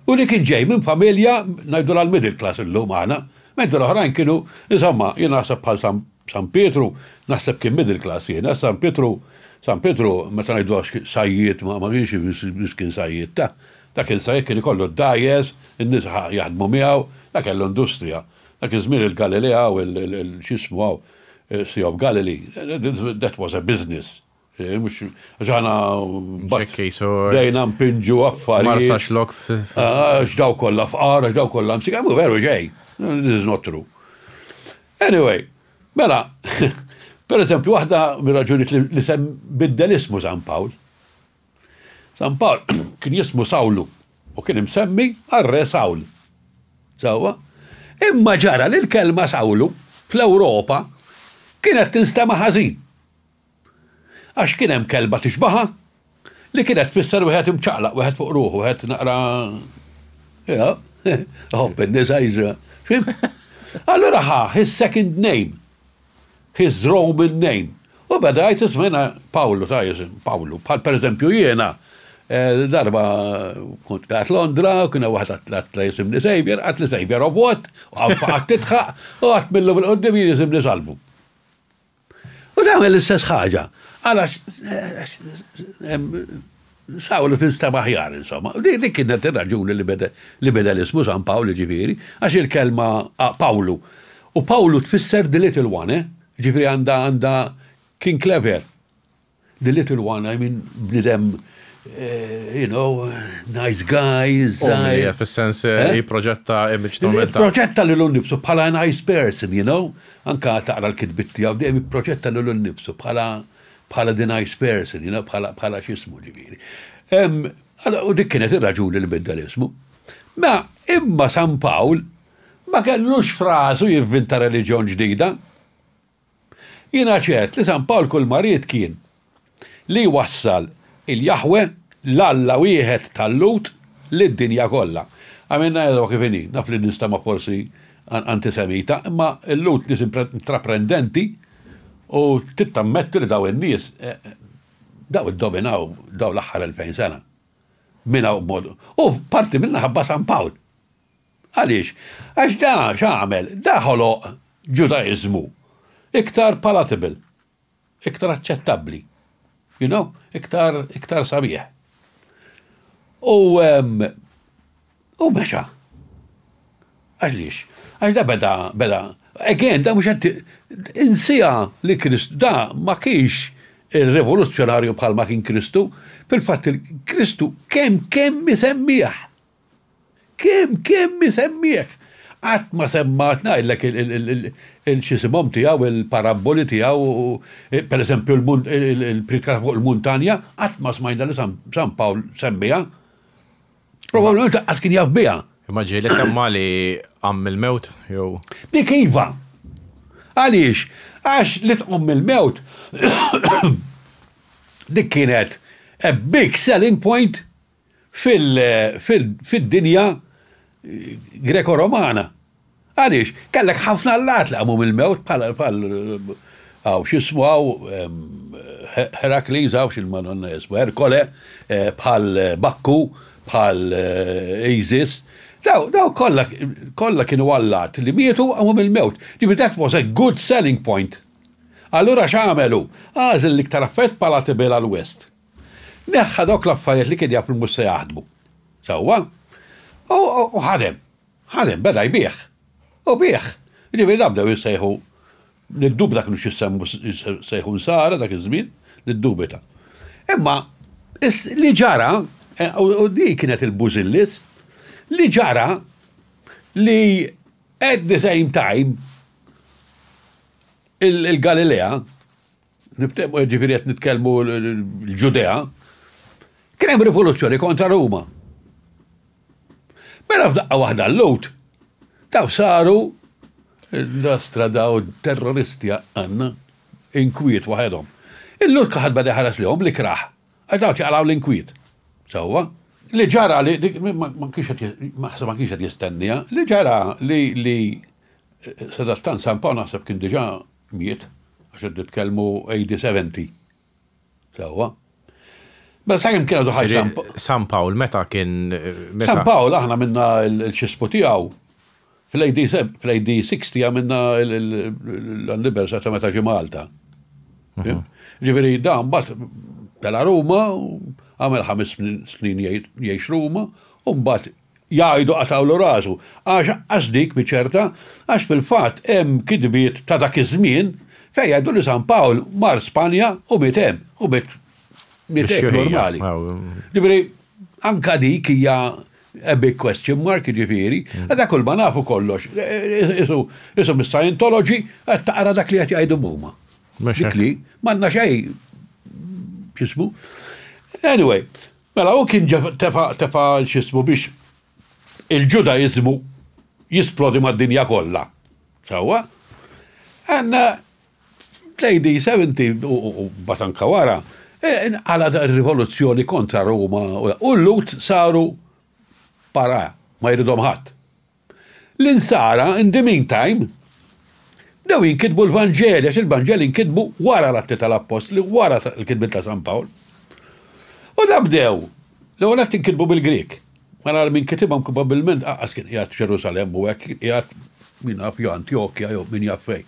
U li kien ġej minn familja, ngħidulha l-middle class illum aħna, mentri l-oħrajn kienu, insomma, jien naħseb bħal San San Pietru, naħseb kien middle class jiena, San Pietru, San Pietru, meta ngħiduha sajjied ma ma kienx biss kien sajjied, ta, ta kien sajjied kien ikollu d-dgħajjes, in-nisa jaħdmu miegħu, ta kellu industrija. Dak iż-żmien il-Galilea hawn il, il, x'jismu hawn, Sea of Galilee, that was a business. Eh, mux, ġana bdejna mpinġu affari. Marsa xlok. Ah, ġdaw kolla fqar, ġdaw kolla msik, għamu veru ġej. This is not true. Anyway, mela, per eżempju, wahda mir-raġuniet li sem biddel ismu San Pawl. San Pawl kien jismu Sawlu u kien imsemmi għarre Sawl. Sawa? Imma ġara li l-kelma Sawlu fl-Europa kienet tinstema ħażin. Għax kien hemm kelba tixbaħha, li kienet tfisser wieħed imċaqlaq, wieħed fuq ruħu, wieħed naqra iħobb in-nisa jiġri. Fhimt? Allura ħa his second name, his Roman name. U beda jgħid ismena Pawlu ta' jisim, Pawlu. Bħal pereżempju jiena eh, darba kont qed Londra, kien hemm waħed għat jisim li sejbjer, għat li sejbjer of what, u għat titħaq, u għat millu bil-qoddim jisim li salbu. U tagħmel l-istess ħaġa. Għala Sawlu tinstab aħjar, insomma. Dik kienet ir-raġuni li beda l-ismu San Pawl, ġifieri, għax il-kelma Pawlu. U Pawlu tfisser the little one, eh? Ġifieri għandha għandha kien clever. The little one, I mean, bnidem, you know, nice guy, zaħir. Umli, fil-sens eh? eh? jiprojetta image ta' minn ta'. Projetta li l-nibsu bħala nice person, you know, anka taqra l-kitbitti għaw, dejjem projetta li l-nibsu bħala bħala the nice person, you know, bħala bħala xismu ġiviri. U dik kienet ir-raġuni li bidda l-ismu. Ma imma San Pawl ma kellux frasu jivvinta reliġjon ġdida. Jiena ċert li San Pawl kulma ried kien li jwassal il-Jaħweh, l-Alla wieħed tal-Lhud, lid-dinja kollha. Għamilna għedwa kif inhi, naf li ninstema' forsi antisemita, imma l-Lhud nies intraprendenti u trid tammetti li dawn in-nies, dawn iddominaw dawn l-aħħar elfejn sena. Minn hawn b'mod, u parti minnha ħabba San Pawl. Għaliex? Għax da x'għamel? Da ħoloq Ġudaiżmu iktar palatable, iktar aċċettabbli, you know, iktar, iktar sabiħ. U, u mexa. Għaxliex? Għax da beda, beda, again, da mhux qed insija li Krist da ma kienx il-revoluzzjonarju bħal ma kien Kristu, fil-fatt il-Kristu kemm kemm isemmieħ. Kemm, kemm isemmieh! Qatt ma semmat, ngħidlek, il-x'isimhom tiegħu, il-parabboli tiegħu, per eżempju, il-Priedka fuq il-Muntanja, qatt ma smajna li San Pawl semmiha. Probabbilment lanqas kien jaf biha. Imma ġie li semma li qam mill-mewt, jew? Dik iva! Għaliex? Għax li tqum mill-mewt dik kienet a big selling point fid-dinja Greko-Romana. Għaliex? Kellek ħafna allat li qamu mill-mewt bħal hawn x'ismu hawn Herakles hawn x'Madonna hi ismha Erkole, bħal Bakku, bħal Isis. Dawn kollha kollha kienu allat li mietu u qamu mill-mewt. Ġifieri that was a good selling point. Allura x'għamel hu? Għażel l-iktar affarijiet palatable għall-West. Neħħa dawk l-affarijiet li kien jaf li mhux se jaħdmu sewwa u ħadem. Ħadem, beda jbigħ. U biegħ. Jiġifieri dawn bdew jissejħu, niddubita kinux jissejħu nsara dak iż-żmien, niddubita. Imma li ġara, e, u di kienet il-bużillis, li ġara li at the same time il-Galilea Niftehmu ġifieri qed nitkellmu l-Ġudea. Kien hemm rivoluzzjoni kontra Ruma. Mela f'daqqa waħda l-lut, daw saru l-astra daw terroristi għanna, inkwiet waħedhom. Il-lut kaħad bada ħaras li li kraħ, għax daw ċaqlaw l-inkwiet. Sawa, li ġara li, ma kienx qed jistennija, li ġara li li eh, sadattan San Pawl naħseb kien diġa Miet, għax qed nitkellmu AD 70. Sewwa. Mela sakemm kien għadu ħaj San Pawl. San Pawl meta kien San Pawl aħna minna l-xispu tiegħu fl-AD 60 għamilna l-anniversary ta' meta ġi Malta. Mhm. Ġifieri dan bat tela' Ruma, għamel ħames snin jgħix Ruma, u mbagħad jgħidu qatgħulu rasu, għax aqqas dik mhi ċerta, għax fil-fatt hemm kitbiet ta' dak iż-żmien fejn jgħidu li San Pawl mar Spanja u miet hemm, u miet miet hekk normali. Ġifieri, anke dik hija a big question mark, jiġifieri, għadha kull ma nafu kollox, isu mis-Scientology qed taqra dak li qed jgħidu huma. Dik li, m'għandna xejn x'ismu. Anyway, Mela hu kien ġa tefa' tefa' x'ismu biex il-Ġudaiżmu jisplodi mad-dinja kollha. Sewwa? And fl-AD 70 u mbagħad anke wara, inqalgħet ir-rivoluzzjoni kontra Ruma u l-Lhud saru pariah, ma jridhom ħadd. L-Insara, in the meantime, bdew jinkitbu l-Vanġeli għax il-Vanġeli nkitbu wara l-Atti tal-Appostli, wara l-kitbiet ta' San Pawl. U da bdew, l-ewwel nett inkitbu bil-Grieg. Mela min kitibhom probabbilment aqqas kien qiegħed f'Ġerusalemm u hekk kien qiegħed min jaf jew Antjokja jew min jaf fejn.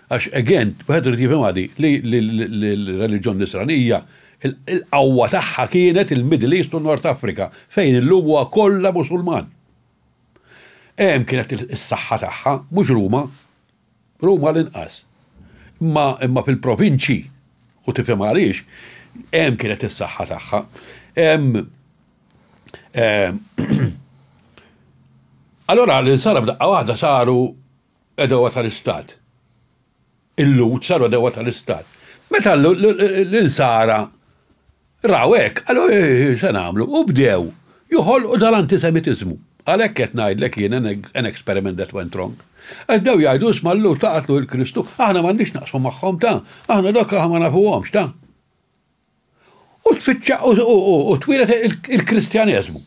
Għax again, wieħed irid jifhimha di li l-reliġjon Nisranija il-qawwa tagħha kienet il-Middle East u North Africa fejn illum huwa kollha Musulman. Hemm kienet is-saħħa tagħha, mhux Ruma. Ruma l-inqas. Imma imma fil-provinċji u tifhem għaliex hemm kienet is-saħħa tagħha. Hemm Allora l-insara b'daqqa waħda saru edowa tal-istat. Il-Lhud saru għadewwa tal-Istat. Meta l-Insara raw hekk, qalu, Eħ, se nagħmlu? U bdew joħolqu dal-antisemitiżmu. Għalhekk qed ngħidlek jien an experiment that went wrong. Għax bdew jgħidu, Isma' l-Lhud ta' qatlu lil Kristu, aħna m'għandniex x'naqsmu magħhom ta, aħna dawk aħna ma nafuhomx ta. u tfittxa u twilet il-Kristjaneżmu.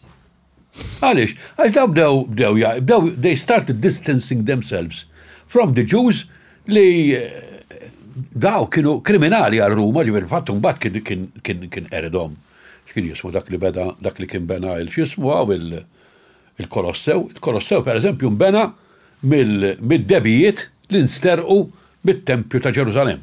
Għaliex? Għax daw bdew bdew bdew they started distancing themselves from the Jews li daw kienu kriminali għal Ruma, ġifieri fatt imbagħad kien kien kien qeridhom x'kien jismu dak li beda dak li kien bena il x'jismu għaw il-Kolossew. Il-Kolossew pereżempju nbena mid-debijiet li nsterqu mit-Tempju ta' Ġerusalemm.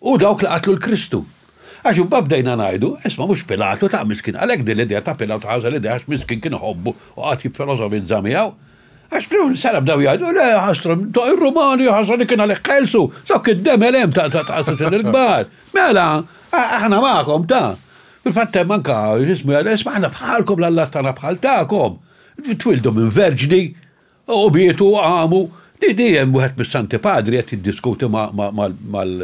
u dawk li qatlu 'l Kristu. Għax imbagħad bdejna ngħidu, 'Isma' mhux Pilatu ta' miskin, għalhekk din l-idea ta' Pilatu ħażen idea għax miskin kien iħobbu u qagħad jiffilosofizza miegħu. Għax fl-ewwel sara bdew jgħidu, 'Le, ħasra, ta' ir-Rumani ħażen kien għalhekk ħelsu, dawk id-demel hemm ta' assassini l-kbar. Mela, aħna magħkom ta'. Fil-fatt hemm anke x'ismu jgħidlu, 'Isma' aħna bħalkom l-allat tagħna bħal tagħkom. Twieldu minn verġni U bietu u qamu. Di di hemm wieħed mis-Santi Padri qed jiddiskuti ma' mal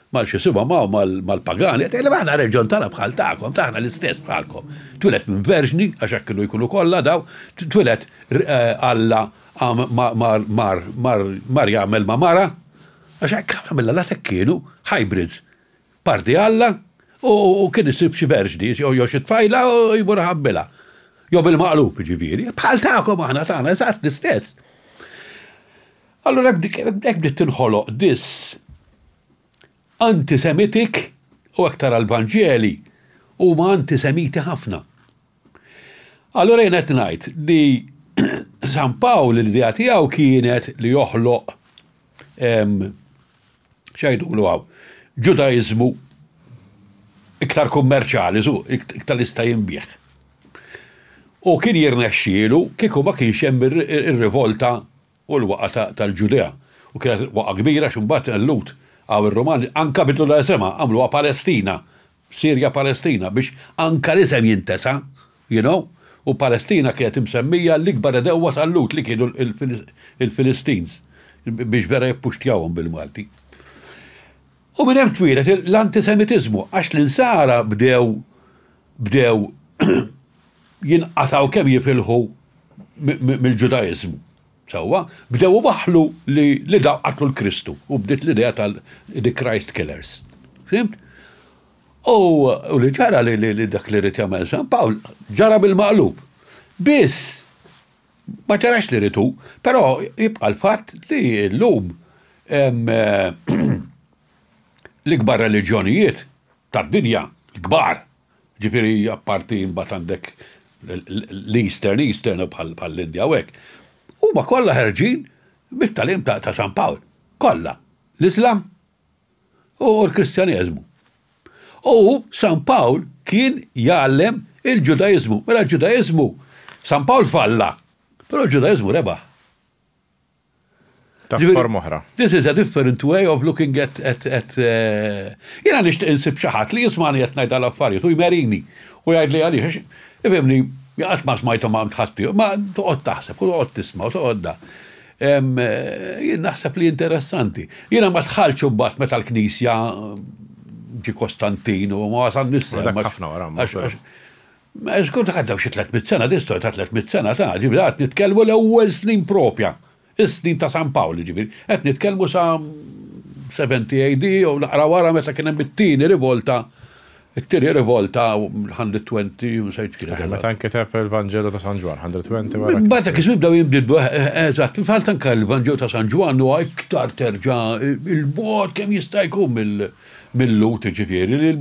mal x'isimhom hawn mal-pagani qed jgħidilhom aħna r-reġjon tagħna bħal tagħkom, ta' aħna l-istess bħalkom. Twieled minn verġni, għax hekk kienu jkunu kollha dawn, twieled Alla mar jagħmel ma' mara, għax hekk ħafna mill-Allat hekk kienu, hybrids. Parti Alla u kien isib xi verġni jew xi tfajla u jmur iħabbilha. Jew bil-maqlub jiġifieri. Bħal tagħkom aħna tagħna eżatt l-istess. Allura hekk bdiet tinħoloq dis antisemitik u hekk tara l-Vanġeli huma antisemiti ħafna. Allura jien qed ngħid li San Pawl l-idea tiegħu kienet li joħloq x'għidulu hawn, Ġudaiżmu iktar kummerċjali, iktar li jista' jinbiegħ. U kien jirnexxielu kieku ma kienx hemm ir-rivolta u l-waqgħa tal-Ġudea, u kienet waqgħa kbira għax imbagħad Lut hawn ir-Rumani anke bidlulha isimha, għamluha Palestina, Sirja Palestina, biex anke l-isem jintesa', you know, u Palestina kienet imsemmija l-ikbar għedewwa ta' Lut li kienu l-Filistins, biex vera jippuxtjawhom bil-Malti. U minn hemm twieled l-antisemitiżmu għax l-insara bdew bdew jinqatgħu kemm jifilħu mill-Ġudaiżmu. Sewwa, bdew iwaħħlu li dawn qatlu l-Kristu u bdiet l-idea tal-The Christ Killers. Fhimt? U li ġara li dak li rrid jagħmel San Pawl ġara bil-maqlub. Biss ma ġarax li ritu, però jibqa' l-fatt li llum l-ikbar reliġjonijiet tad-dinja, l-kbar, Ġifieri apparti imbagħad għandek l-Eastern, Eastern bħall-Indja u hekk. Huma kollha ħerġin mit-tagħlim ta' San Pawl. Kollha. L-Iżlam u l-Kristjaneżmu. U San Pawl kien jgħallem il-Ġudaiżmu. Mela l-Ġudaiżmu, San Pawl falla, però l-Ġudaiżmu rebaħ. Ta' forma oħra. This is a different way of looking at, at, at uh, jena nishtiq insib xaħat li jismani jett najda l-affarijiet u jmerini u jgħid li għalix, ifimni, jgħat ma smajtu ma mtħatti, ma toqgħod taħseb u toqgħod tisma u toqgħod da. Eh, naħseb li interessanti. Jena ma tħalċu bat meta l-knisja ġi Kostantin u ma wasan nissa. Dak ħafna wara. Żgur dak għaddew xi tliet mitt sena, din storja ta' tliet mitt sena ta', jiġifieri qed nitkellmu l-ewwel snin proprja, is-snin ta' San Pawl, jiġifieri qed nitkellmu sa 70 AD jew naqra wara meta kien hemm it-tieni rivolta, it-tieni rivolta 120 u nsejt x'kienet eżatt. Meta nkiteb il-Vanġelu ta' San Ġwann, 120 wara. Imbagħad dak iż-żmien bdew jinbidlu, eżatt, fil-fatt anke l-Vanġelu ta' San Ġwann huwa iktar terġa' 'l bogħod kemm jista' jkun mil-Lhud, jiġifieri li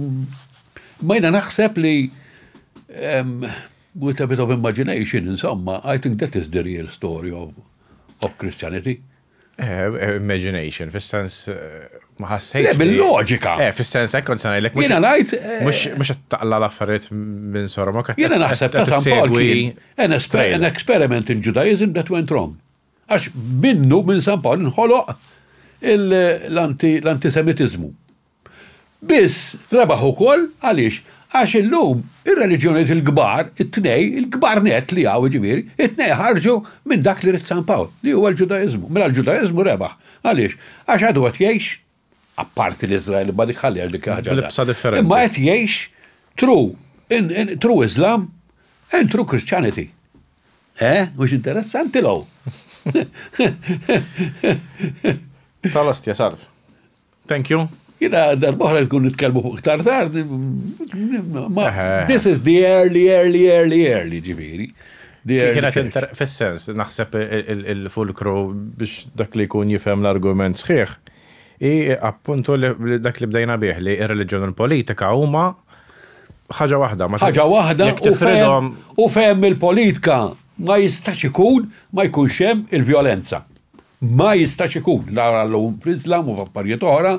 Imma jiena naħseb li with a bit of imagination, insomma, I think that is the real story of, of Christianity. Eh, eh, imagination, fis-sens eh, ma ħassejx. Bil-loġika. Eh, fis-sens hekk kont sanajlek. Jiena ngħid. Mhux qed taqla l-affarijiet minn sorma qed. Jiena naħseb ta' San Paul an experiment in Judaism that went wrong. Għax minnu minn San Paul nħoloq l-antisemitiżmu. Biss, rebaħ ukoll, għaliex? Għax illum ir-reliġjonijiet il-kbar, it-tnejn, il-kbar nett li hawn jiġifieri, it-tnejn ħarġu minn dak li ried San Pawl, li huwa l-Ġudaiżmu. Mela l-Ġudaiżmu rebaħ. Għaliex? Għax għadu qed jgħix, apparti l-Iżrael, imma dik ħalliha dik ħaġa oħra, imma qed jgħix true, true Islam and true Christianity. Eh, mhux interessanti l-hawn? Tal-ostja, salv. Thank you. Jina darbohra jkun nitkellmu fuq iktar tard. This is the early, early, early, early, ġiviri. Kienet fil-sens, naħseb il-fulkru biex dak li jkun jifhem l-argument sħiħ. I appuntu li dak li bdejna bih li il-reliġjon u l-politika huma ħaġa waħda. ħaġa waħda u fem il-politika ma jistax ikun ma jkunx hemm il-vjolenza. Ma jistax ikun, la għall-Owen Prieslam u f'affarijiet oħra,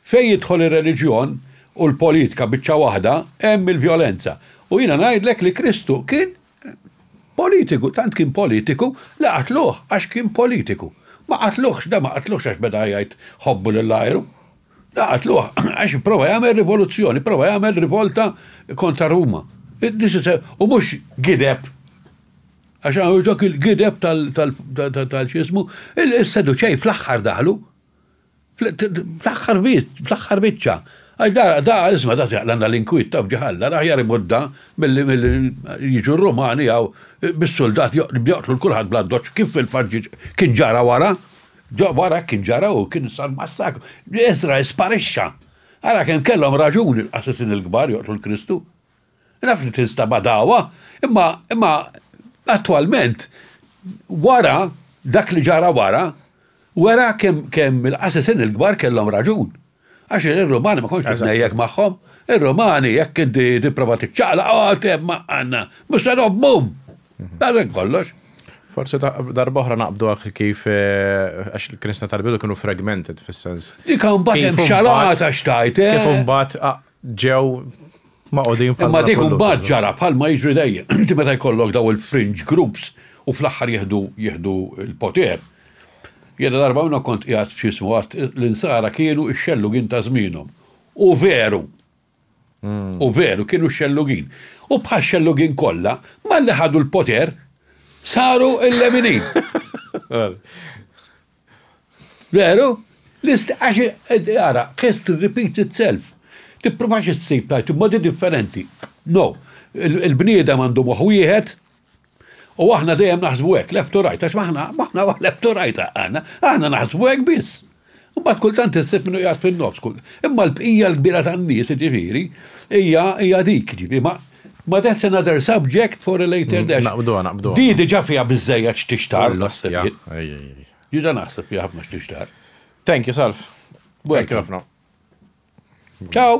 fejn jidħol ir-reliġjon u l-politka biċċa waħda, hemm il-vjolenza. U jiena ngħidlek li Kristu kien politiku, tant kien politiku li qatluh għax kien politiku. Ma qatluhx, da ma qatluhx għax beda jgħid ħobbu lil għajru. Da qatluh għax ipprova jagħmel rivoluzzjoni, ipprova jagħmel rivolta kontra Ruma. U mhux gideb Għax hawn dawk il-gideb tal-x'ismu, is-Seduċej fl-aħħar daħlu. Fl-aħħar bit, fl-aħħar biċċa. Għax da, da, isma' da seħla għandha l-inkwiet ta' f'ġi ħalla, l-aħjar imut da milli jiġu r-Rumani hawn bis-suldat joqtlu l-kulħadd bl-addoċċ kif fil-fatt kien ġara wara. Wara hekk kien ġara u kien sar massakru. Iżrael sparixxa. Ara kemm kellhom raġun il-qassisin il-kbar joqtlu l-Kristu. Naf li tinstab għadawha, imma, imma attwalment, wara, dak li ġara wara, wera kemm, kemm il-qassisin il-kbar kellhom raġun. Għax ir-Rumani ma kontx titnejjek magħhom. Ir-Rumani jekk inti tipprova tiċċaqlaq, oh, te ma għandna, mhux se nobhom! Għalhekk kollox. Forsi darba oħra naqbdu għak kif eh, għax il-Kristna tal-bidu kienu fragmented fis-sens. Dik mbagħad hemm xalata xtajt. Eh? Kif mbagħad ġew maqodin bħal. Imma dik imbagħad ġara bħal ma jiġri dejjem. Inti meta jkollok daw il-fringe groups u fl-aħħar jieħdu jieħdu l-poter. Jiena darba minnhom kont qiegħed x'ismu għad l-insara kienu x-xellugin ta' żmienhom. U veru. Hmm. U veru kienu x-xellugin. U bħal xellugin kollha malli ħadu l-poter saru il-leminin. Veru? L-ist, għax għara, history repeats itself. Tippruvax issib tajt modi differenti. No. Il-bniedem għandu moħ wieħed, u aħna dejjem naħsbu hekk, left to right, għax maħna, maħna left to right għana, aħna naħsbu hekk biss. U bat kultant issib minnu jgħat fin-nofs kull. Imma l-bqija l-kbira tan-nies, ġifieri, hija hija dik, ġifieri, ma Ma that's another subject for a later mm, dash. Naqbdu, naqbdu. Di diġa fija bizzejja x'tixtar. Diġa naħseb fija ħafna x'tixtar. Thank you, Salf. Thank you ħafna. Ciao.